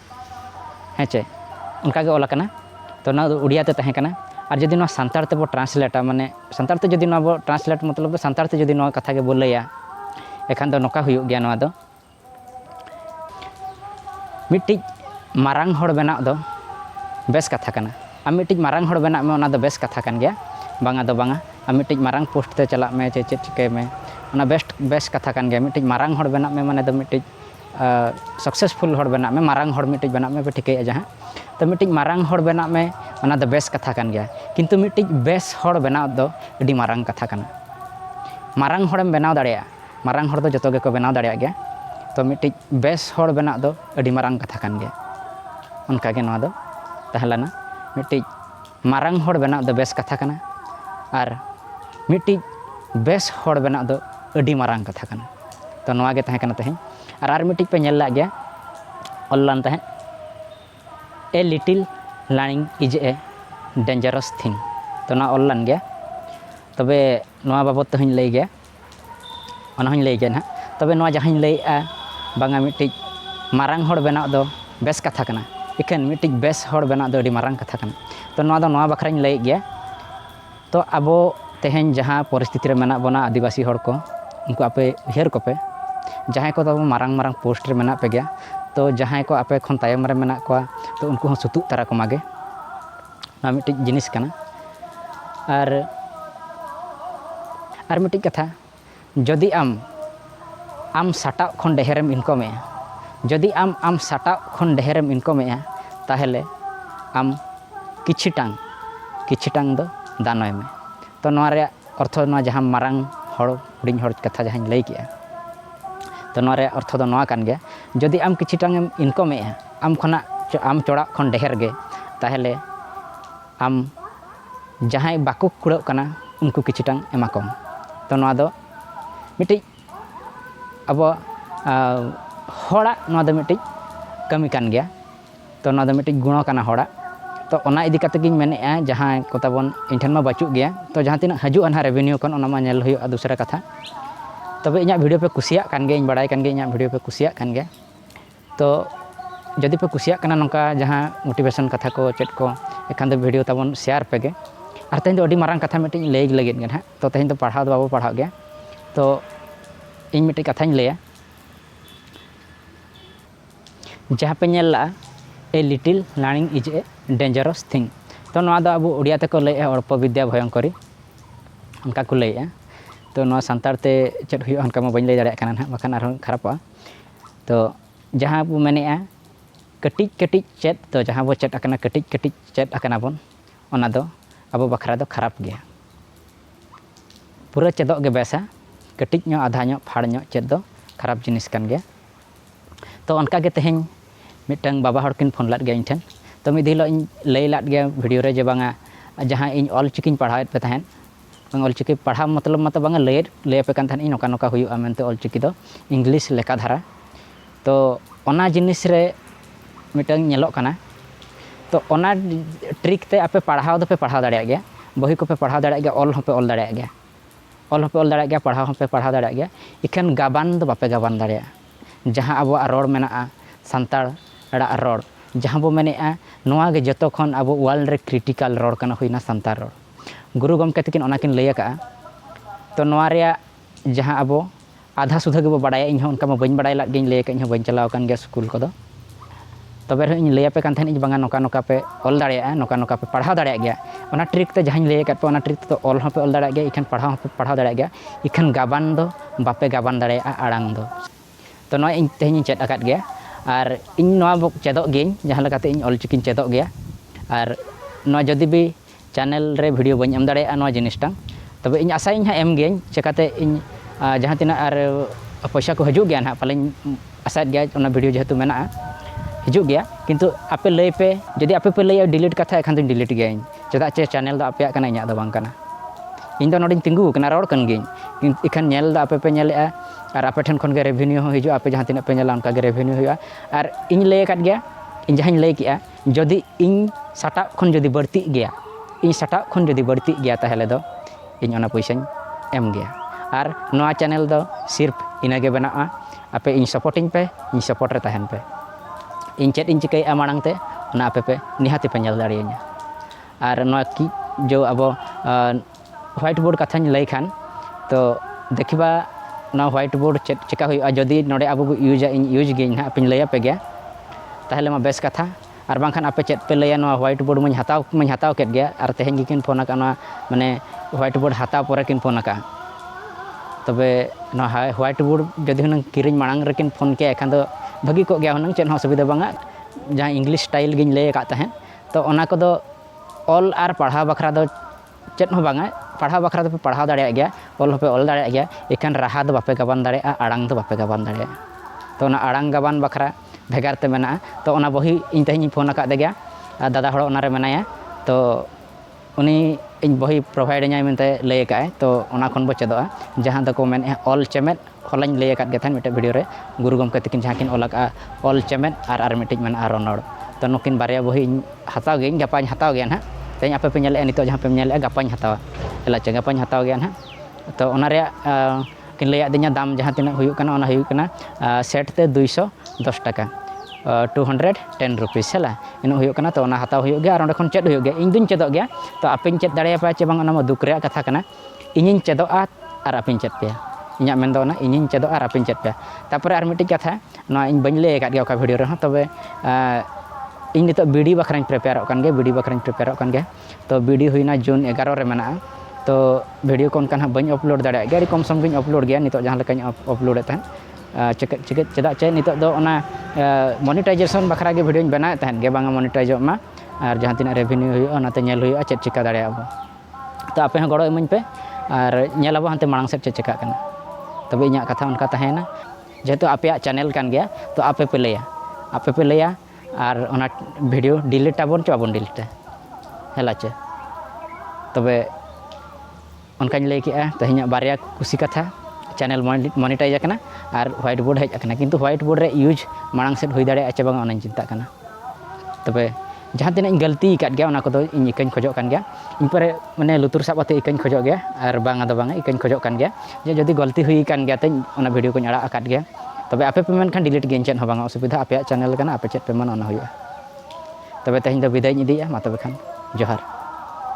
ᱦᱮᱸ ᱪᱮ ᱚᱱᱠᱟ ᱜᱮ ᱚᱞ ᱟᱠᱟᱱᱟ ᱛᱚ ᱱᱚᱣᱟ ᱫᱚ ᱩᱲᱤᱭᱟ ᱛᱮ ᱛᱟᱦᱮᱸ ᱠᱟᱱᱟ ᱟᱨ ᱡᱩᱫᱤ ᱱᱚᱣᱟ ᱥᱟᱱᱛᱟᱲ ᱛᱮᱵᱚ ᱴᱨᱟᱱᱥᱞᱮᱴᱟ ᱢᱟᱱᱮ ᱥᱟᱱᱛᱟᱲ ᱛᱮ ᱡᱩᱫᱤ ᱱᱚᱣᱟ ᱵᱚ ᱴᱨᱟᱱᱥᱞᱮᱴ ᱢᱚᱛᱞᱚᱵ ᱫᱚ ᱥᱟᱱᱛᱟᱲ ᱛᱮ ᱡᱩᱫᱤ ᱱᱚᱣᱟ ᱠᱟᱛᱷᱟ ᱜᱮᱵᱚ ᱞᱟᱹᱭᱟ ᱮᱠᱷᱟᱱ ᱫᱚ ᱱᱚᱝᱠᱟ ᱦᱩᱭᱩᱜ ᱜᱮᱭᱟ ᱱᱚᱣᱟ ᱫᱚ ᱢᱤᱫᱴᱤᱡ ᱢᱟᱨᱟᱝ ᱦᱚᱲ ᱵᱮᱱᱟᱜ ᱫᱚ ᱵᱮᱥ ᱠᱟᱛᱷᱟ ᱠᱟᱱᱟ ᱟᱢ ᱢᱤᱫᱴᱤᱡ ᱢᱟᱨᱟᱝ ᱦᱚᱲ ᱵᱮᱱᱟᱜ ᱢᱮ ᱚᱱᱟ ᱫᱚ ᱵᱮᱥ ᱠᱟᱛᱷᱟ ᱠᱟᱱ ᱜᱮᱭᱟ ᱵᱟᱝᱟ ᱫᱚ ᱵᱟᱝᱟ ᱟᱢ ᱢᱤᱫᱴᱤᱡ ᱢᱟᱨᱟᱝ ᱯᱳᱥᱴ ᱛᱮ ᱪᱟᱞᱟᱜ ᱢᱮ ᱪᱮ ᱪᱮᱫ ᱪᱤᱠᱟᱹᱭ ᱢᱮ ᱚᱱᱟ ᱵᱮᱥᱴ ᱵᱮᱥ ᱠᱟᱛᱷᱟ ᱠᱟᱱ ᱜᱮᱭᱟ ᱢᱤᱫᱴᱤᱡ ᱢᱟᱨᱟᱝ ᱦᱚᱲ ᱵᱮᱱᱟᱜ ᱢᱮ ᱢᱟᱱᱮ ᱫᱚ ᱢᱤᱫᱴᱤᱡ ᱥᱟᱠᱥᱮᱥᱯᱷᱩᱞ ᱦᱚᱲ ᱵᱮᱱᱟᱜ ᱢᱮ ᱢᱟᱨᱟᱝ ᱦᱚᱲ ᱢᱤᱫᱴᱤᱡ ᱵᱮᱱᱟᱜ ᱢᱮ ᱯᱮ ᱴᱷᱤᱠᱟᱹᱭᱮᱫᱼᱟ ᱡᱟᱦᱟᱸ ᱛᱚ ᱢᱤᱫᱴᱤᱡ ᱢᱟᱨᱟᱝ ᱦᱚᱲ ᱵᱮᱱᱟᱜ ᱢᱮ ᱚᱱᱟ ᱫᱚ ᱵᱮᱥ ᱠᱟᱛᱷᱟ ᱠᱟᱱ ᱜᱮᱭᱟ ᱠᱤᱱᱛᱩ ᱢᱤᱫᱴᱤᱡ ᱵᱮᱥ ᱦᱚᱲ ᱵᱮᱱᱟᱣ ᱫᱚ ᱟᱹᱰᱤ ᱢᱟᱨᱟᱝ ᱠᱟᱛᱷᱟ ᱠᱟᱱᱟ ᱢᱟᱨᱟᱝ ᱦᱚᱲᱮᱢ ᱵᱮᱱᱟᱣ ᱫᱟᱲᱮᱭᱟᱜᱼᱟ ᱢᱟᱨᱟᱝ ᱦᱚᱲ ᱫᱚ ᱡᱚᱛᱚ ᱜᱮᱠᱚ ᱵᱮᱱᱟᱣ ᱫᱟᱲᱮᱭᱟᱜ ᱜᱮᱭᱟ ᱛᱚ ᱢᱤᱫᱴᱤᱡ ᱵᱮᱥ ᱦᱚᱲ ᱵᱮᱱᱟᱜ ᱫᱚ ᱟᱹᱰᱤ ᱢᱟᱨᱟᱝ ᱠᱟᱛᱷᱟ ᱠᱟᱱ ᱜᱮᱭᱟ ᱚᱱᱠᱟᱜᱮ ᱱᱚᱣᱟ ᱫᱚ ᱛᱟᱦᱮᱸ ᱞᱮᱱᱟ ᱢᱤᱫᱴᱤᱡ ᱢᱟᱨᱟᱝ ᱦᱚᱲ ᱵᱮᱱᱟᱜ ᱫᱚ ᱵᱮᱥ ᱠᱟᱛᱷᱟ ᱠᱟᱱᱟ ᱟᱨ ᱢᱤᱫᱴᱤᱡ ᱵᱮᱥ ᱦᱚᱲ ᱵᱮᱱᱟᱜ ᱫᱚ ᱟᱹᱰᱤ ᱢᱟᱨᱟᱝ ᱠᱟᱛᱷᱟ ᱠᱟᱱᱟ ᱛᱚ ᱱᱚᱣᱟ ᱜᱮ ᱛᱟᱦᱮᱸ ᱠᱟᱱᱟ ᱛᱮᱦᱮᱧ ᱟᱨ ᱟᱨ ᱢᱤᱫᱴᱤᱡ ᱯᱮ ᱧᱮᱞ ᱞᱮᱫ ᱜᱮᱭᱟ ᱚᱞ ᱞᱮᱱ ᱛᱟᱦᱮᱸᱫ ᱮ ᱞᱤᱴᱤᱞ ᱞᱟᱨᱱᱤᱝ ᱤᱡ ᱮ ᱰᱮᱧᱡᱟᱨᱟᱥ ᱛᱷᱤᱝ ᱛᱚ ᱱᱚᱣᱟ ᱚᱞ ᱞᱮᱱ ᱜᱮᱭᱟ ᱛᱚᱵᱮ ᱱᱚᱣᱟ ᱵᱟᱵᱚᱫ ᱛᱮᱦᱚᱧ ᱞᱟᱹᱭ ᱜᱮᱭᱟ ᱚᱱᱟ ᱦᱚᱸᱧ ᱞᱟᱹᱭ ᱜᱮᱭᱟ ᱱᱟᱦᱟᱜ ᱛᱚᱵᱮ ᱱᱚᱣᱟ ᱡᱟᱦᱟᱸᱧ ᱞᱟᱹᱭᱮᱫᱼᱟ ᱵᱟᱝᱟ ᱢᱤᱫᱴᱤᱡ ᱢᱟᱨᱟᱝ ᱦᱚᱲ ᱵᱮᱱᱟᱜ ᱫᱚ ᱵᱮᱥ ᱠᱟᱛᱷᱟ ᱠᱟᱱᱟ ᱤᱠᱷᱟᱹᱱ ᱢᱤᱫᱴᱤᱡ ᱵᱮᱥ ᱦᱚᱲ ᱵᱮᱱᱟᱜ ᱫᱚ ᱟᱹᱰᱤ ᱢᱟᱨᱟᱝ ᱠᱟᱛᱷᱟ ᱠᱟᱱᱟ ᱛᱚ ᱱᱚᱣᱟ ᱫᱚ ᱱᱚᱣᱟ ᱵᱟᱠᱷᱨᱟᱧ ᱞᱟᱹᱭᱮᱫ ᱜᱮᱭᱟ ᱛᱚ ᱟᱵᱚ ᱛᱮᱦᱮᱧ ᱡᱟᱦᱟᱸ ᱯᱚᱨᱤᱥᱛᱷᱤᱛᱤ ᱨᱮ ᱢᱮᱱᱟᱜ ᱵᱚᱱᱟ ᱟᱹᱫᱤᱵᱟᱹᱥᱤ ᱦᱚᱲ ᱠᱚ ᱩᱱᱠᱩ ᱟᱯᱮ ᱩᱭᱦᱟᱹᱨ ᱠᱚᱯᱮ ᱡᱟᱦᱟᱸᱭ ᱠᱚᱫᱚ ᱢᱟᱨᱟᱝ ᱢᱟᱨᱟᱝ ᱯᱳᱥᱴ ᱨᱮ ᱢᱮᱱᱟᱜ ᱯᱮᱜᱮᱭᱟ ᱛᱚ ᱡᱟᱦᱟᱸᱭ ᱠᱚ ᱟᱯᱮ ᱠᱷᱚᱱ ᱛᱟᱭᱚᱢ ᱨᱮ ᱢᱮᱱᱟᱜ ᱠᱚᱣᱟ ᱛᱚ ᱩᱱᱠᱩ ᱦᱚᱸ ᱥᱩᱛᱩᱜ ᱛᱟᱨᱟ ᱠᱚᱢᱟᱜᱮ ᱱᱚᱣᱟ ᱢᱤᱫᱴᱤᱡ ᱡᱤᱱᱤᱥ ᱠᱟᱱᱟ ᱟᱨ ᱟᱨ ᱢᱤᱫᱴᱤᱡ ᱠᱟᱛᱷᱟ ᱡᱩᱫᱤ ᱟᱢ ᱟᱢ ᱥᱟᱴᱟᱣ ᱠᱷᱚᱱ ᱰᱷᱮᱨᱮᱢ ᱤᱱᱠᱚᱢᱮᱜᱼᱟ ᱡᱩᱫᱤ ᱟᱢ ᱟᱢ ᱥᱟᱴᱟᱣ ᱠᱷᱚᱱ ᱰᱷᱮᱨᱮᱢ ᱤᱱᱠᱚᱢᱮᱜᱼᱟ ᱛᱟᱦᱚᱞᱮ ᱟᱢ ᱠᱤᱪᱷᱤᱴᱟᱝ ᱠᱤᱪᱷᱤᱴᱟᱝ ᱫᱚ ᱫᱟᱱᱚᱭ ᱢᱮ ᱛᱚ ᱱᱚᱣᱟ ᱨᱮᱭᱟᱜ ᱚᱨᱛᱷᱚ ᱱᱚᱣᱟ ᱡᱟᱦᱟᱸ ᱢᱟᱨᱟᱝ ᱦᱚᱲ ᱦᱩᱰᱤᱧ ᱦᱚᱲ ᱠᱟᱛᱷᱟ ᱡᱟᱦᱟᱸᱧ ᱞᱟᱹᱭ ᱠᱮᱜᱼᱟ ᱛᱚ ᱱᱚᱣᱟ ᱨᱮᱭᱟᱜ ᱚᱨᱛᱷᱚ ᱫᱚ ᱱᱚᱣᱟ ᱠᱟᱱ ᱜᱮᱭᱟ ᱡᱩᱫᱤ ᱟᱢ ᱠᱤᱪᱷᱤᱴᱟᱝ ᱮᱢ ᱤᱱᱠᱚᱢᱮᱜᱼᱟ ᱟᱢ ᱠᱷᱚᱱᱟᱜ ᱟᱢ ᱪᱚᱲᱟᱜ ᱠᱷᱚᱱ ᱰᱷᱮᱨ ᱜᱮ ᱛᱟᱦᱚᱞᱮ ᱟᱢ ᱡᱟᱦᱟᱸᱭ ᱵᱟᱠᱚ ᱠᱩᱲᱟᱹᱜ ᱠᱟᱱᱟ ᱩᱱᱠᱩ ᱠᱤᱪᱷᱩᱴᱟᱝ ᱮᱢᱟ ᱠᱚᱢ ᱛᱚ ᱱᱚᱣᱟ ᱫᱚ ᱢᱤᱫᱴᱤᱡ ᱟᱵᱚ ᱦᱚᱲᱟᱜ ᱱᱚᱣᱟ ᱫᱚ ᱢᱤᱫᱴᱤᱡ ᱠᱟᱹᱢᱤ ᱠᱟᱱ ᱜᱮᱭᱟ ᱛᱚ ᱱᱚᱣᱟ ᱫᱚ ᱢᱤᱫᱴᱤᱡ ᱜᱩᱬᱚ ᱠᱟᱱᱟ ᱦᱚᱲᱟᱜ ᱛᱚ ᱚᱱᱟ ᱤᱫᱤ ᱠᱟᱛᱮ ᱜᱤᱧ ᱢᱮᱱᱮᱫᱼᱟ ᱡᱟᱦᱟᱸᱭ ᱠᱚ ᱛᱟᱵᱚᱱ ᱤᱧ ᱴᱷᱮᱱ ᱢᱟ ᱵᱟᱹᱪᱩᱜ ᱜᱮᱭᱟ ᱛᱚ ᱡᱟᱦᱟᱸ ᱛᱤᱱᱟᱹᱜ ᱦᱤᱡᱩᱜᱼᱟ ᱱᱟᱦᱟᱜ ᱨᱮᱵᱷᱤᱱᱤᱭᱩ ᱠᱷᱚᱱ ᱚᱱᱟ ᱢᱟ ᱧᱮᱞ ᱦᱩᱭᱩᱜᱼᱟ ᱫᱚᱥᱨᱟ ᱠᱟᱛᱷᱟ ᱛᱚᱵᱮ ᱤᱧᱟᱹᱜ ᱵᱷᱤᱰᱤᱭᱳ ᱯᱮ ᱠᱩᱥᱤᱭᱟᱜ ᱠᱟᱱ ᱜᱮᱭᱟ ᱤᱧ ᱵᱟᱲᱟᱭ ᱠᱟᱱ ᱜᱤᱭᱟᱹᱧ ᱤᱧᱟᱹᱜ ᱵᱷᱤᱰᱤᱭᱳ ᱯᱮ ᱠᱩᱥᱤᱭᱟᱜ ᱠᱟᱱ ᱜᱮᱭᱟ ᱛᱚ ᱡᱩᱫᱤ ᱯᱮ ᱠᱩᱥᱤᱭᱟᱜ ᱠᱟᱱᱟ ᱱᱚᱝᱠᱟ ᱡᱟᱦᱟᱸ ᱢᱳᱴᱤᱵᱷᱮᱥᱚᱱ ᱠᱟᱛᱷᱟ ᱠᱚ ᱪᱮᱫ ᱠᱚ ᱮᱱᱠᱷᱟᱱ ᱫᱚ ᱵᱷᱤᱰᱤᱭᱳ ᱛᱟᱵᱚᱱ ᱥᱮᱭᱟᱨ ᱯᱮᱜᱮ ᱟᱨ ᱛᱮᱦᱮᱧ ᱫᱚ ᱟᱹᱰᱤ ᱢᱟᱨᱟᱝ ᱠᱟᱛᱷᱟ ᱢᱤᱫᱴᱤᱡ ᱞᱟᱹᱭ ᱞᱟᱹᱜᱤᱫ ᱜᱮ ᱱᱟᱦᱟᱜ ᱛᱚ ᱛᱮᱦᱮᱧ ᱫᱚ ᱯᱟᱲᱦᱟᱣ ᱫᱚ ᱵᱟᱵᱚ ᱯᱟᱲᱦᱟᱜ ᱜᱮᱭᱟ ᱛᱚ ᱤᱧ ᱢᱤᱫᱴᱤᱡ ᱠᱟᱛᱷᱟᱧ ᱞᱟᱹᱭᱟ ᱡᱟᱦᱟᱸ ᱯᱮ ᱧᱮᱞ ᱞᱟᱜᱼᱟ a little learning is a dangerous thing ᱛᱚ ᱱᱚᱣᱟ ᱫᱚ ᱟᱵᱚ ᱳᱰᱤᱭᱟ ᱛᱮᱠᱚ ᱞᱟᱹᱭᱮᱜᱼᱟ ᱚᱲᱯᱚ ᱵᱤᱫᱽᱫᱟ ᱵᱷᱚᱭᱚᱝᱠᱚᱨᱤ ᱚᱱᱠᱟ ᱠᱚ ᱞᱟᱹᱭᱮᱜᱼᱟ ᱛᱚ ᱱᱚᱣᱟ ᱥᱟᱱᱛᱟᱲ ᱛᱮ ᱪᱮᱫ ᱦᱩᱭᱩᱜᱼᱟ ᱚᱱᱠᱟ ᱢᱟ ᱵᱟᱹᱧ ᱞᱟᱹᱭ ᱫᱟᱲᱮᱭᱟᱜ ᱠᱟᱱᱟ ᱱᱟᱦᱟᱜ ᱵᱟᱠᱷᱟᱱ ᱟᱨᱦᱚᱸ ᱠᱷᱟᱨᱟᱯᱚᱜᱼᱟ ᱛᱚ ᱡᱟᱦᱟᱸ ᱵᱚ ᱢᱮᱱᱮᱜᱼᱟ ᱠᱟᱹᱴᱤᱡ ᱠᱟᱹᱴᱤᱡ ᱪᱮᱫ ᱫᱚ ᱡᱟᱦᱟᱸ ᱵᱚ ᱪᱮᱫ ᱟᱠᱟᱱᱟ ᱠᱟᱹᱴᱤᱡ ᱠᱟᱹᱴᱤᱡ ᱪᱮᱫ ᱟᱠᱟᱱᱟ ᱵᱚᱱ ᱚᱱᱟ ᱫᱚ ᱟᱵᱚ ᱵᱟᱠᱷᱨᱟ ᱫᱚ ᱠᱷᱟᱨᱟᱯ ᱜᱮᱭᱟ ᱯᱩᱨᱟᱹ ᱪᱮᱫᱚᱜ ᱜᱮ ᱵᱮᱥᱟ ᱠᱟᱹᱴᱤᱡ ᱧᱚᱜ ᱟᱫᱷᱟ ᱧᱚᱜ ᱯᱷᱟᱲ ᱧᱚᱜ ᱪᱮᱫ ᱫᱚ ᱠᱷᱟᱨᱟᱯ ᱡᱤᱱᱤᱥ ᱠᱟᱱ ᱜᱮᱭᱟ ᱛᱚ ᱚᱱᱠᱟ ᱜᱮ ᱛᱮᱦᱮᱧ ᱢᱤᱫᱴᱟᱝ ᱵᱟᱵᱟ ᱦᱚᱲ ᱠᱤᱱ ᱯᱷᱳᱱ ᱞᱮᱫ ᱜᱮᱭᱟ ᱤᱧ ᱴᱷᱮᱱ ᱛᱚ ᱢᱤᱫ ᱫᱤᱱ ᱦᱤᱞᱳᱜ ᱤᱧ ᱞᱟᱹᱭ ᱞᱮᱫ ᱜᱮᱭᱟ ᱵᱷᱤᱰᱤᱭᱳ ᱨᱮ ᱡᱮ ᱵᱟᱝᱟ ᱡᱟᱦᱟᱸ ᱤᱧ ᱚᱞ ᱪᱤᱠᱤᱧ ᱯᱟᱲᱦᱟᱣᱮᱫ ᱯᱮ ᱛᱟᱦᱮᱸᱫ ᱵᱟᱝ ᱚᱞᱪᱤᱠᱤ ᱯᱟᱲᱦᱟᱣ ᱢᱚᱛᱞᱚᱵ ᱢᱟᱛᱚ ᱵᱟᱝᱟ ᱞᱟᱹᱭᱮᱫ ᱞᱟᱹᱭ ᱟᱯᱮ ᱠᱟᱱ ᱛᱟᱦᱮᱱ ᱤᱧ ᱱᱚᱝᱠᱟ ᱱᱚᱝᱠᱟ ᱦᱩᱭᱩᱜᱼᱟ ᱢᱮᱱᱛᱮ ᱚᱞᱪᱤᱠᱤ ᱫᱚ ᱤᱝᱞᱤᱥ ᱞᱮᱠᱟ ᱫᱷᱟᱨᱟ ᱛᱚ ᱚᱱᱟ ᱡᱤᱱᱤᱥ ᱨᱮ ᱢᱤᱫᱴᱟᱹᱝ ᱧᱮᱞᱚᱜ ᱠᱟᱱᱟ ᱛᱚ ᱚᱱᱟ ᱴᱨᱤᱠ ᱛᱮ ᱟᱯᱮ ᱯᱟᱲᱦᱟᱣ ᱫᱚᱯᱮ ᱯᱟᱲᱦᱟᱣ ᱫᱟᱲᱮᱭᱟᱜ ᱜᱮᱭᱟ ᱵᱚᱦᱤ ᱠᱚᱯᱮ ᱯᱟᱲᱦᱟᱣ ᱫᱟᱲᱮᱭᱟᱜ ᱜᱮᱭᱟ ᱚᱞ ᱦᱚᱸᱯᱮ ᱚᱞ ᱫᱟᱲᱮᱭᱟᱜ ᱜᱮᱭᱟ ᱚᱞ ᱦᱚᱸᱯᱮ ᱚᱞ ᱫᱟᱲᱮᱭᱟᱜ ᱜᱮᱭᱟ ᱯᱟᱲᱦᱟᱣ ᱦᱚᱸᱯᱮ ᱯᱟᱲᱦᱟᱣ ᱫᱟᱲᱮᱭᱟᱜ ᱜᱮᱭᱟ ᱤᱠᱷᱟᱹᱱ ᱜᱟᱵᱟᱱ ᱫᱚ ᱵᱟᱯᱮ ᱜᱟᱵᱟᱱ ᱫᱟᱲᱮᱭᱟᱜᱼᱟ ᱡᱟᱦᱟᱸ ᱟᱵᱚᱣᱟᱜ ᱨᱚᱲ ᱢᱮᱱᱟᱜᱼᱟ ᱥᱟᱱᱛᱟᱲ ᱟᱲᱟᱜ ᱨᱚᱲ ᱡᱟᱦᱟᱸ ᱵᱚ ᱢᱮᱱᱮᱫᱼᱟ ᱱᱚᱣᱟ ᱜᱮ ᱡᱚᱛᱚ ᱠᱷᱚᱱ ᱟᱵᱚ ᱚᱣᱟᱨᱞᱰ ᱨᱮ ᱠᱨᱤᱴᱤᱠᱟᱞ ᱨᱚᱲ ᱠᱟᱱᱟ ᱦᱩᱭᱱᱟ ᱥᱟᱱᱛᱟᱲ ᱨᱚᱲ ᱜᱩᱨᱩ ᱜᱚᱢᱠᱮ ᱛᱟᱹᱠᱤᱱ ᱚᱱᱟ ᱠᱤᱱ ᱞᱟᱹᱭ ᱟᱠᱟᱫᱼᱟ ᱛᱚ ᱱᱚᱣᱟ ᱨᱮᱭᱟᱜ ᱡᱟᱦᱟᱸ ᱟᱵᱚ ᱟᱫᱷᱟ ᱥᱩᱫᱷᱟᱹ ᱜᱮᱵᱚ ᱵᱟᱲᱟᱭᱟ ᱤᱧ ᱦᱚᱸ ᱚᱱᱠᱟ ᱢᱟ ᱵᱟᱹᱧ ᱵᱟᱲᱟᱭ ᱞᱮᱫ ᱜᱮ ᱤᱧ ᱞᱟᱹᱭ ᱟᱠᱟᱫ ᱤᱧ ᱦᱚᱸ ᱵᱟᱹᱧ ᱪᱟᱞᱟᱣ ᱟᱠᱟᱱ ᱜᱮᱭᱟ ᱥᱠᱩᱞ ᱠᱚᱫᱚ ᱛᱚᱵᱮ ᱨᱮᱦᱚᱸ ᱤᱧ ᱞᱟᱹᱭ ᱟᱯᱮ ᱠᱟᱱ ᱛᱟᱦᱮᱱᱤᱧ ᱵᱟᱝᱟ ᱱᱚᱝᱠᱟ ᱱᱚᱝᱠᱟ ᱯᱮ ᱚᱞ ᱫᱟᱲᱮᱭᱟᱜᱼᱟ ᱱᱚᱝᱠᱟ ᱱᱚᱝᱠᱟ ᱯᱮ ᱯᱟᱲᱦᱟᱣ ᱫᱟᱲᱮᱭᱟᱜ ᱜᱮᱭᱟ ᱚᱱᱟ ᱴᱨᱤᱠ ᱛᱮ ᱡᱟᱦᱟᱸᱧ ᱞᱟᱹᱭ ᱟᱠᱟᱫ ᱯᱮ ᱚᱱᱟ ᱴᱨᱤᱠ ᱛᱮᱫᱚ ᱚᱞ ᱦᱚᱸ ᱯᱮ ᱚᱞ ᱫᱟᱲᱮᱭᱟᱜ ᱜᱮᱭᱟ ᱤᱠᱷᱟᱹᱱ ᱯᱟᱲᱦᱟᱣ ᱦᱚᱸ ᱯᱮ ᱯᱟᱲᱦᱟᱣ ᱫᱟᱲᱮᱭᱟᱜ ᱜᱮᱭᱟ ᱤᱠᱷᱟᱹᱱ ᱜᱟᱵᱟᱱ ᱫᱚ ᱵᱟᱯᱮ ᱜᱟᱵᱟᱱ ᱫᱟᱲᱮᱭᱟᱜᱼᱟ ᱟᱲᱟᱝ ᱫᱚ ᱛᱚ ᱱᱚᱣᱟ ᱤᱧ ᱛᱮᱦᱮᱧᱤᱧ ᱪᱮᱫ ᱟᱠᱟᱫ ᱜᱮᱭᱟ ᱟᱨ ᱤᱧ ᱱᱚᱣᱟ ᱪᱮᱫᱚᱜ ᱜᱤᱭᱟᱹᱧ ᱡᱟᱦᱟᱸ ᱞᱮᱠᱟᱛᱮ ᱤᱧ ᱚᱞ ᱪᱤᱠᱤᱧ ᱪᱮᱫᱚᱜ ᱜᱮᱭᱟ ᱟᱨ ᱱᱚᱣᱟ ᱡᱩᱫᱤ ᱵᱤ ᱪᱟᱱᱮᱞ ᱨᱮ ᱵᱷᱤᱰᱤᱭᱳ ᱵᱟᱹᱧ ᱮᱢ ᱫᱟᱲᱮᱭᱟᱜᱼᱟ ᱱᱚᱣᱟ ᱡᱤᱱᱤᱥ ᱴᱟᱝ ᱛᱚᱵᱮ ᱤᱧ ᱟᱥᱟᱭᱟᱹᱧ ᱦᱟᱸᱜ ᱮᱢ ᱜᱮᱭᱟᱹᱧ ᱪᱤᱠᱟᱹᱛᱮ ᱤᱧ ᱡᱟᱦᱟᱸ ᱛᱤᱱᱟᱹᱜ ᱟᱨ ᱯᱚᱭᱥᱟ ᱠᱚ ᱦᱤᱡᱩᱜ ᱜᱮᱭᱟ ᱦᱟᱸᱜ ᱯᱟᱞᱮᱧ ᱟᱥᱟᱭᱮᱫ ᱜᱮᱭᱟ ᱚᱱᱟ ᱵᱷᱤᱰᱤᱭᱳ ᱡᱮᱦᱮᱛᱩ ᱢᱮᱱᱟᱜᱼᱟ ᱦᱤᱡᱩᱜ ᱜᱮᱭᱟ ᱠᱤᱱᱛᱩ ᱟᱯᱮ ᱞᱟᱹᱭ ᱯᱮ ᱡᱩᱫᱤ ᱟᱯᱮ ᱯᱮ ᱞᱟᱹᱭᱟ ᱰᱤᱞᱤᱴ ᱠᱟᱛᱷᱟ ᱮᱱᱠᱷᱟᱱ ᱫᱚᱧ ᱰᱤᱞᱤᱴ ᱜᱮᱭᱟ ᱤᱧ ᱪᱮᱫᱟᱜ ᱪᱮ ᱪᱟᱱᱮᱞ ᱫᱚ ᱟᱯᱮᱭᱟᱜ ᱠᱟᱱᱟ ᱤᱧᱟᱹᱜ ᱫᱚ ᱵᱟᱝ ᱠᱟᱱᱟ ᱤᱧ ᱫᱚ ᱱᱚᱰᱮᱧ ᱛᱤᱸᱜᱩ ᱟᱠᱟᱱᱟ ᱨᱚᱲ ᱠᱟᱱ ᱜᱤᱭᱟᱹᱧ ᱮᱱᱠᱷᱟᱱ ᱧᱮᱞ ᱫᱚ ᱟᱯᱮ ᱯᱮ ᱧᱮᱞᱮᱫᱼᱟ ᱟᱨ ᱟᱯᱮ ᱴᱷᱮᱱ ᱠᱷᱚᱱ ᱜᱮ ᱨᱮᱵᱷᱤᱱᱤᱭᱩ ᱦᱚᱸ ᱦᱤᱡᱩᱜᱼᱟ ᱟᱯᱮ ᱡᱟᱦᱟᱸ ᱛᱤᱱᱟᱹᱜ ᱯᱮ ᱧᱮᱞᱟ ᱚᱱᱠᱟ ᱜᱮ ᱨᱮᱵᱷᱤᱱᱤᱭᱩ ᱦᱩᱭᱩᱜᱼᱟ ᱟᱨ ᱤᱧ ᱞᱟᱹᱭ ᱟᱠᱟᱫ ᱜᱮᱭᱟ ᱤᱧ ᱡᱟᱦᱟᱸᱧ ᱞᱟᱹᱭ ᱠᱮᱫᱼᱟ ᱡᱚᱫᱤ ᱤᱧ ᱥᱟᱴᱟᱜ ᱠᱷᱚᱱ ᱡᱚᱫᱤ ᱵᱟᱹᱲᱛᱤᱜ ᱜᱮᱭᱟ ᱤᱧ ᱥᱟᱴᱟᱜ ᱠᱷᱚᱱ ᱡᱚᱫᱤ ᱵᱟᱹᱲᱛᱤᱜ ᱜᱮᱭᱟ ᱛᱟᱦᱚᱞᱮ ᱫᱚ ᱤᱧ ᱚᱱᱟ ᱯᱚᱭᱥᱟᱧ ᱮᱢ ᱜᱮᱭᱟ ᱟᱨ ᱱᱚᱣᱟ ᱪᱮᱱᱮᱞ ᱫᱚ ᱥᱤᱨᱯ ᱤᱱᱟᱹ ᱜᱮ ᱵᱮᱱᱟᱜᱼᱟ ᱟᱯᱮ ᱤᱧ ᱥᱚᱯᱚᱴ ᱤᱧ ᱯᱮ ᱤᱧ ᱥᱚᱯᱚᱴ ᱨᱮ ᱛᱟᱦᱮᱱ ᱯᱮ ᱤᱧ ᱪᱮᱫ ᱤᱧ ᱪᱤᱠᱟᱹᱭᱮᱫᱼᱟ ᱢᱟᱲᱟᱝ ᱛᱮ ᱚᱱᱟ ᱟᱯᱮ ᱯᱮ ᱱᱤᱦᱟᱹᱛ ᱯᱮ ᱧᱮᱞ ᱫᱟᱲᱮᱭᱟᱹᱧᱟ ᱟᱨ ᱱᱚᱣᱟ ᱠᱤ ᱡᱚ ᱟᱵᱚ ᱦᱳᱣᱟᱭᱤᱴ ᱵᱳᱨᱰ ᱠᱟᱛᱷᱟᱧ ᱞᱟᱹᱭ ᱠᱷᱟᱱ ᱛᱚ ᱫᱮᱠᱷᱤᱵᱟ ᱱᱚᱣᱟ ᱦᱳᱣᱟᱭᱤᱴ ᱵᱳᱨᱰ ᱪᱮᱫ ᱪᱮᱠᱟ ᱦᱩᱭᱩᱜᱼᱟ ᱡᱩᱫᱤ ᱱᱚᱰᱮ ᱟᱵᱚ ᱵᱚ ᱤᱭᱩᱡᱟ ᱤᱧ ᱤᱭᱩᱡᱽ ᱜᱤᱭᱟᱹᱧ ᱦᱟᱸᱜ ᱟᱯᱮᱧ ᱞᱟᱹᱭ ᱟᱯᱮ ᱜᱮᱭᱟ ᱛᱟᱦᱚᱞᱮ ᱢᱟ ᱵᱮᱥ ᱠᱟᱛᱷᱟ ᱟᱨ ᱵᱟᱝᱠᱷᱟᱱ ᱟᱯᱮ ᱪᱮᱫ ᱯᱮ ᱞᱟᱹᱭᱟ ᱱᱚᱣᱟ ᱦᱳᱣᱟᱭᱤᱴ ᱵᱳᱨᱰ ᱢᱟᱧ ᱦᱟᱛᱟᱣ ᱢᱟᱧ ᱦᱟᱛᱟᱣ ᱠᱮᱫ ᱜᱮᱭᱟ ᱟᱨ ᱛᱮᱦᱮᱧ ᱜᱮᱠᱤᱱ ᱯᱷᱳᱱ ᱟᱠᱟᱫᱼᱟ ᱱᱚᱣᱟ ᱢᱟᱱᱮ ᱦᱳᱣᱟᱭᱤᱴ ᱵᱳᱨᱰ ᱦᱟᱛᱟᱣ ᱯᱚᱨᱮ ᱠᱤᱱ ᱯᱷᱳᱱ ᱟᱠᱟᱫᱼᱟ ᱛᱚᱵᱮ ᱱᱚᱣᱟ ᱦᱳᱣᱟᱭᱤᱴ ᱵᱳᱨᱰ ᱡᱩᱫᱤ ᱦᱩᱱᱟᱹᱝ ᱠᱤᱨᱤᱧ ᱢᱟᱲᱟᱝ ᱨᱮᱠᱤᱱ ᱯᱷᱳᱱ ᱠᱮᱭᱟ ᱮᱱᱠᱷᱟᱱ ᱫᱚ ᱵᱷᱟᱹᱜᱤ ᱠᱚᱜ ᱜᱮᱭᱟ ᱦᱩᱱᱟᱹᱝ ᱪᱮᱫ ᱦᱚᱸ ᱚᱥᱩᱵᱤᱫᱷᱟ ᱵᱟᱝᱟ ᱡᱟᱦᱟᱸ ᱤᱝᱞᱤᱥ ᱥᱴᱟᱭᱤᱞ ᱜᱤᱧ ᱞᱟᱹᱭ ᱟᱠᱟᱫ ᱛᱟᱦᱮᱸᱫ ᱛᱚ ᱚᱱᱟ ᱠᱚᱫᱚ ᱚᱞ ᱟᱨ ᱯᱟᱲᱦᱟᱣ ᱵᱟᱠᱷᱨᱟ ᱫᱚ ᱪᱮᱫ ᱦᱚᱸ ᱵᱟᱝᱟ ᱯᱟᱲᱦᱟᱣ ᱵᱟᱠᱷᱨᱟ ᱫᱚᱯᱮ ᱯᱟᱲᱦᱟᱣ ᱫᱟᱲᱮᱭᱟᱜ ᱜᱮᱭᱟ ᱚᱞ ᱦᱚᱸᱯᱮ ᱚᱞ ᱫᱟᱲᱮᱭᱟᱜ ᱜᱮᱭᱟ ᱮᱠᱷᱮᱱ ᱨᱟᱦᱟ ᱫᱚ ᱵᱟᱯᱮ ᱜᱟᱵᱟᱱ ᱫᱟᱲᱮᱭᱟᱜᱼᱟ ᱟᱲᱟᱝ ᱫᱚ ᱵᱟᱯᱮ ᱜᱟᱵᱟᱱ ᱫᱟᱲᱮᱭᱟᱜᱼᱟ ᱛᱚ ᱚᱱᱟ ᱟᱲᱟᱝ ᱜᱟᱵᱟᱱ ᱵᱟᱠᱷᱨᱟ ᱵᱷᱮᱜᱟᱨ ᱛᱮ ᱢᱮᱱᱟᱜᱼᱟ ᱛᱚ ᱚᱱᱟ ᱵᱳᱭ ᱤᱧ ᱛᱮᱦᱮᱧ ᱤᱧ ᱯᱷᱳᱱ ᱟᱠᱟᱫᱮ ᱜᱮᱭᱟ ᱟᱨ ᱫᱟᱫᱟ ᱦᱚᱲ ᱚᱱᱟᱨᱮ ᱢᱮᱱᱟᱭᱟ ᱛᱚ ᱩᱱᱤ ᱤᱧ ᱵᱳᱭ ᱯᱨᱳᱵᱷᱟᱭᱤᱰ ᱤᱧᱟᱭ ᱢᱮᱱᱛᱮ ᱞᱟᱹᱭ ᱟᱠᱟᱫ ᱟᱭ ᱛᱚ ᱚᱱᱟ ᱠᱷᱚᱱ ᱵᱚᱱ ᱪᱮᱫᱚᱜᱼᱟ ᱡᱟᱦᱟᱸ ᱫᱚᱠᱚ ᱢᱮᱱᱮᱫᱼᱟ ᱚᱞ ᱪᱮᱢᱮᱫ ᱦᱚᱞᱟᱧ ᱞᱟᱹᱭ ᱟᱠᱟᱫ ᱜᱮ ᱛᱟᱦᱮᱸᱫ ᱢᱤᱫᱴᱮᱱ ᱵᱷᱤᱰᱤᱭᱳ ᱨᱮ ᱜᱩᱨᱩ ᱜᱚᱢᱠᱮ ᱛᱟᱹᱠᱤᱱ ᱡᱟᱦᱟᱸ ᱠᱤᱱ ᱚᱞ ᱟᱠᱟᱫᱼᱟ ᱚᱞ ᱪᱮᱢᱮᱫ ᱟᱨ ᱟᱨ ᱢᱤᱫᱴᱤᱡ ᱢᱮᱱᱟᱜᱼᱟ ᱨᱚᱱᱚᱲ ᱛᱳ ᱱᱩᱠᱤᱱ ᱵᱟᱨᱭᱟ ᱵᱳᱭ ᱤᱧ ᱦᱟᱛᱟᱣ ᱜᱤᱭᱟᱹᱧ ᱜᱟᱯᱟᱧ ᱦᱟᱛᱟᱣ ᱜᱮᱭᱟ ᱦᱟᱸᱜ ᱛᱮᱦᱮᱧ ᱟᱯᱮ ᱯᱮ ᱧᱮᱞᱮᱫᱼᱟ ᱱᱤᱛᱚᱜ ᱡᱟᱦᱟᱸ ᱯᱮ ᱧᱮᱞᱮᱫᱼᱟ ᱜᱟᱯᱟᱧ ᱦᱟᱛᱟᱣᱟ ᱦᱮᱞᱟ ᱪᱮ ᱜᱟᱯᱟᱧ ᱦᱟᱛᱟᱣ ᱜᱮᱭᱟ ᱦᱟᱸᱜ ᱛᱳ ᱚᱱᱟ ᱨᱮᱭᱟᱜ ᱠᱤᱱ ᱞᱟᱹᱭ ᱟᱹᱫᱤᱧᱟ ᱫᱟᱢ ᱡᱟᱦᱟᱸ ᱛᱤᱱᱟᱹᱜ ᱦᱩᱭᱩᱜ ᱠᱟᱱᱟ ᱚᱱᱟ ᱦᱩᱭᱩᱜ ᱠᱟᱱᱟ ᱥᱮᱴ ᱛᱮ ᱫᱩᱭ ᱥᱚ ᱫᱚᱥ ᱴᱟᱠᱟ ᱴᱩ ᱦᱟᱱᱰᱨᱮᱰ ᱴᱮᱱ ᱨᱩᱯᱤᱥ ᱦᱮᱞᱟ ᱤᱱᱟᱹᱜ ᱦᱩᱭᱩᱜ ᱠᱟᱱᱟ ᱛᱳ ᱚᱱᱟ ᱦᱟᱛᱟᱣ ᱦᱩᱭᱩᱜ ᱜᱮᱭᱟ ᱟᱨ ᱚᱸᱰᱮ ᱠᱷᱚᱱ ᱪᱮᱫ ᱦᱩᱭᱩᱜ ᱜᱮᱭᱟ ᱤᱧ ᱫᱚᱧ ᱪᱮᱫᱚᱜ ᱜᱮᱭᱟ ᱛᱳ ᱟᱯᱮᱧ ᱪᱮᱫ ᱫᱟᱲᱮᱭᱟᱯᱮᱭᱟ ᱥᱮ ᱵᱟᱝ ᱚᱱᱟ ᱢᱟ ᱫᱩᱠ ᱨᱮᱭᱟᱜ ᱠᱟᱛᱷᱟ ᱠᱟᱱᱟ ᱤᱧᱤᱧ ᱪᱮᱫᱚᱜᱼᱟ ᱟᱨ ᱟᱯᱮᱧ ᱪᱮᱫ ᱯᱮᱭᱟ ᱤᱧᱟᱹᱜ ᱢᱮᱱ ᱫᱚ ᱚᱱᱟ ᱤᱧᱤᱧ ᱪᱮᱫᱚᱜᱼᱟ ᱟᱨ ᱟᱯᱮᱧ ᱪᱮᱫ ᱯᱮᱭᱟ ᱛᱟᱨᱯᱚᱨᱮ ᱟᱨ ᱢᱤᱫᱴᱤᱡ ᱠᱟᱛᱷᱟ ᱱᱚᱣᱟ ᱤᱧ ᱵᱟᱹᱧ ᱞᱟᱹᱭ ᱟᱠᱟᱫ ᱜᱮᱭᱟ ᱚᱠᱟ ᱵᱷᱤᱰᱤᱭᱳ ᱨᱮᱦᱚᱸ ᱛᱚᱵᱮ ᱤᱧ ᱱᱤᱛᱚᱜ ᱵᱤ ᱰᱤ ᱵᱟᱠᱷᱨᱟᱧ ᱯᱨᱤᱯᱮᱭᱟᱨᱚᱜ ᱠᱟᱱ ᱜᱮᱭᱟ ᱵᱤ ᱰᱤ ᱵᱟᱠᱷᱨᱟᱧ ᱯᱨᱤᱯᱮᱭᱟᱨᱚᱜ ᱠᱟᱱ ᱜᱮᱭᱟ ᱛᱚ ᱵᱤ ᱰᱤ ᱦᱩᱭᱱᱟ ᱡᱩᱱ ᱮᱜᱟᱨᱚ ᱨᱮ ᱢᱮᱱᱟᱜᱼᱟ ᱛᱚ ᱵᱷᱤᱰᱤᱭᱳ ᱠᱚ ᱚᱱᱠᱟ ᱦᱟᱸᱜ ᱵᱟᱹᱧ ᱟᱯᱞᱳᱰ ᱫᱟᱲᱮᱭᱟᱜ ᱜᱮᱭᱟ ᱟᱹᱰᱤ ᱠᱚᱢ ᱥᱚᱢ ᱜᱤᱧ ᱟᱯᱞᱳᱰ ᱜᱮᱭᱟ ᱱᱤᱛᱚᱜ ᱡᱟᱦᱟᱸ ᱞᱮᱠᱟᱧ ᱟᱯᱞᱳᱰ ᱮᱫ ᱛᱟᱦᱮᱸᱫ ᱪᱤᱠᱟᱹ ᱪᱤᱠᱟᱹ ᱪᱮᱫᱟᱜ ᱪᱮ ᱱᱤᱛᱚᱜ ᱫᱚ ᱚᱱᱟ ᱢᱚᱱᱤᱴᱟᱭᱡᱮᱥᱚᱱ ᱵᱟᱠᱷᱨᱟ ᱜᱮ ᱵᱷᱤᱰᱤᱭᱳᱧ ᱵᱮᱱᱟᱣᱮᱫ ᱛᱟᱦᱮᱸᱫ ᱜᱮ ᱵᱟᱝᱟ ᱢᱚᱱᱤᱴᱟᱭᱤᱡᱚᱜ ᱢᱟ ᱟᱨ ᱡᱟᱦᱟᱸ ᱛᱤᱱᱟᱹᱜ ᱨᱮᱵᱷᱤᱱᱤᱭᱩ ᱦᱩᱭᱩᱜᱼᱟ ᱚᱱᱟᱛᱮ ᱧᱮᱞ ᱦᱩᱭᱩᱜᱼᱟ ᱪᱮᱫ ᱪᱤᱠᱟᱹ ᱫᱟᱲᱮᱭᱟᱜᱼᱟ ᱵᱚᱱ ᱛᱚ ᱟᱯᱮ ᱦᱚᱸ ᱜᱚᱲᱚ ᱤᱢᱟᱹᱧ ᱯᱮ ᱟᱨ ᱧᱮᱞ ᱟᱵᱚ ᱦᱟᱱᱛᱮ ᱢᱟᱲᱟᱝ ᱥᱮᱫ ᱪᱮᱫ ᱪᱤᱠᱟᱹᱜ ᱠᱟᱱᱟ ᱛᱚᱵᱮ ᱤᱧᱟᱹᱜ ᱠᱟᱛᱷᱟ ᱚᱱᱠᱟ ᱛᱟᱦᱮᱸᱭᱮᱱᱟ ᱡᱮᱦᱮᱛᱩ ᱟᱯᱮᱭᱟᱜ ᱪᱮᱱᱮᱞ ᱠᱟᱱ ᱜᱮᱭᱟ ᱛᱚ ᱟᱯᱮ ᱯᱮ ᱞᱟᱹᱭᱟ ᱟᱯᱮ ᱯᱮ ᱞᱟᱹᱭᱟ ᱟᱨ ᱚᱱᱟ ᱵᱷᱤᱰᱤᱭᱳ ᱰᱤᱞᱤᱴ ᱟᱵᱚᱱ ᱪᱮ ᱵᱟᱵᱚᱱ ᱰᱤᱞᱤᱴᱟ ᱦᱮᱞᱟ ᱪᱮ ᱛᱚᱵᱮ ᱚᱱᱠᱟᱧ ᱞᱟᱹᱭ ᱠᱮᱜᱼᱟ ᱛᱮᱦᱮᱧᱟᱜ ᱵᱟᱨᱭᱟ ᱠᱩᱥᱤ ᱠᱟᱛᱷᱟ ᱪᱮᱱᱮᱞ ᱢᱚᱱᱤᱴᱟᱭᱤᱡᱽ ᱟᱠᱟᱱᱟ ᱟᱨ ᱦᱳᱣᱟᱭᱤᱴ ᱵᱳᱨᱰ ᱦᱮᱡ ᱟᱠᱟᱱᱟ ᱠᱤᱱᱛᱩ ᱦᱳᱣᱟᱭᱤᱴ ᱵᱳᱨᱰ ᱨᱮ ᱤᱭᱩᱡᱽ ᱢᱟᱲᱟᱝ ᱥᱮᱫ ᱦᱩᱭ ᱫᱟᱲᱮᱭᱟᱜᱼᱟ ᱪᱮ ᱵᱟᱝ ᱚᱱᱟᱧ ᱪᱤᱱᱛᱟᱹᱜ ᱠᱟᱱᱟ ᱛᱚᱵᱮ ᱡᱟᱦᱟᱸ ᱛᱤᱱᱟᱹᱜ ᱤᱧ ᱜᱟᱹᱞᱛᱤ ᱟᱠᱟᱫ ᱜᱮᱭᱟ ᱚᱱᱟ ᱠᱚᱫᱚ ᱤᱧ ᱤᱠᱟᱹᱧ ᱠᱷᱚᱡᱚᱜ ᱠᱟᱱ ᱜᱮᱭᱟ ᱤᱧ ᱯᱚᱨᱮ ᱢᱟᱱᱮ ᱞᱩᱛᱩᱨ ᱥᱟᱵ ᱠᱟᱛᱮ ᱤᱠᱟᱹᱧ ᱠᱷᱚᱡᱚᱜ ᱜᱮᱭᱟ ᱟᱨ ᱵᱟᱝ ᱟᱫᱚ ᱵᱟᱝ ᱤᱠᱟᱹᱧ ᱠᱷᱚᱡᱚᱜ ᱠᱟᱱ ᱜᱮᱭᱟ ᱡᱮ ᱡᱩᱫᱤ ᱜᱟᱹᱞᱛᱤ ᱦᱩᱭ ᱟᱠᱟᱱ ᱜᱮᱭᱟ ᱛᱤᱧ ᱚᱱᱟ ᱵᱷᱤᱰᱤᱭᱳ ᱠᱚᱧ ᱟᱲᱟᱜ ᱟᱠᱟᱫ ᱜᱮᱭᱟ ᱛᱚᱵᱮ ᱟᱯᱮ ᱯᱮ ᱢᱮᱱᱠᱷᱟᱱ ᱰᱤᱞᱤᱴ ᱜᱮᱭᱟᱹᱧ ᱪᱮᱫ ᱦᱚᱸ ᱵᱟᱝ ᱚᱥᱩᱵᱤᱫᱷᱟ ᱟᱯᱮᱭᱟᱜ ᱪᱮᱱᱮᱞ ᱠᱟᱱᱟ ᱟᱯᱮ ᱪᱮᱫ ᱯᱮ ᱢᱮᱱᱟ ᱚᱱᱟ ᱦᱩᱭᱩᱜᱼᱟ ᱛᱚᱵᱮ ᱛᱮᱦᱮᱧ ᱫᱚ ᱵᱤᱫᱟᱹᱭ ᱤᱧ ᱤᱫᱤᱭᱮᱫᱼᱟ ᱢᱟ ᱛᱚᱵᱮ ᱠᱷᱟᱱ ᱡᱚᱦᱟᱨ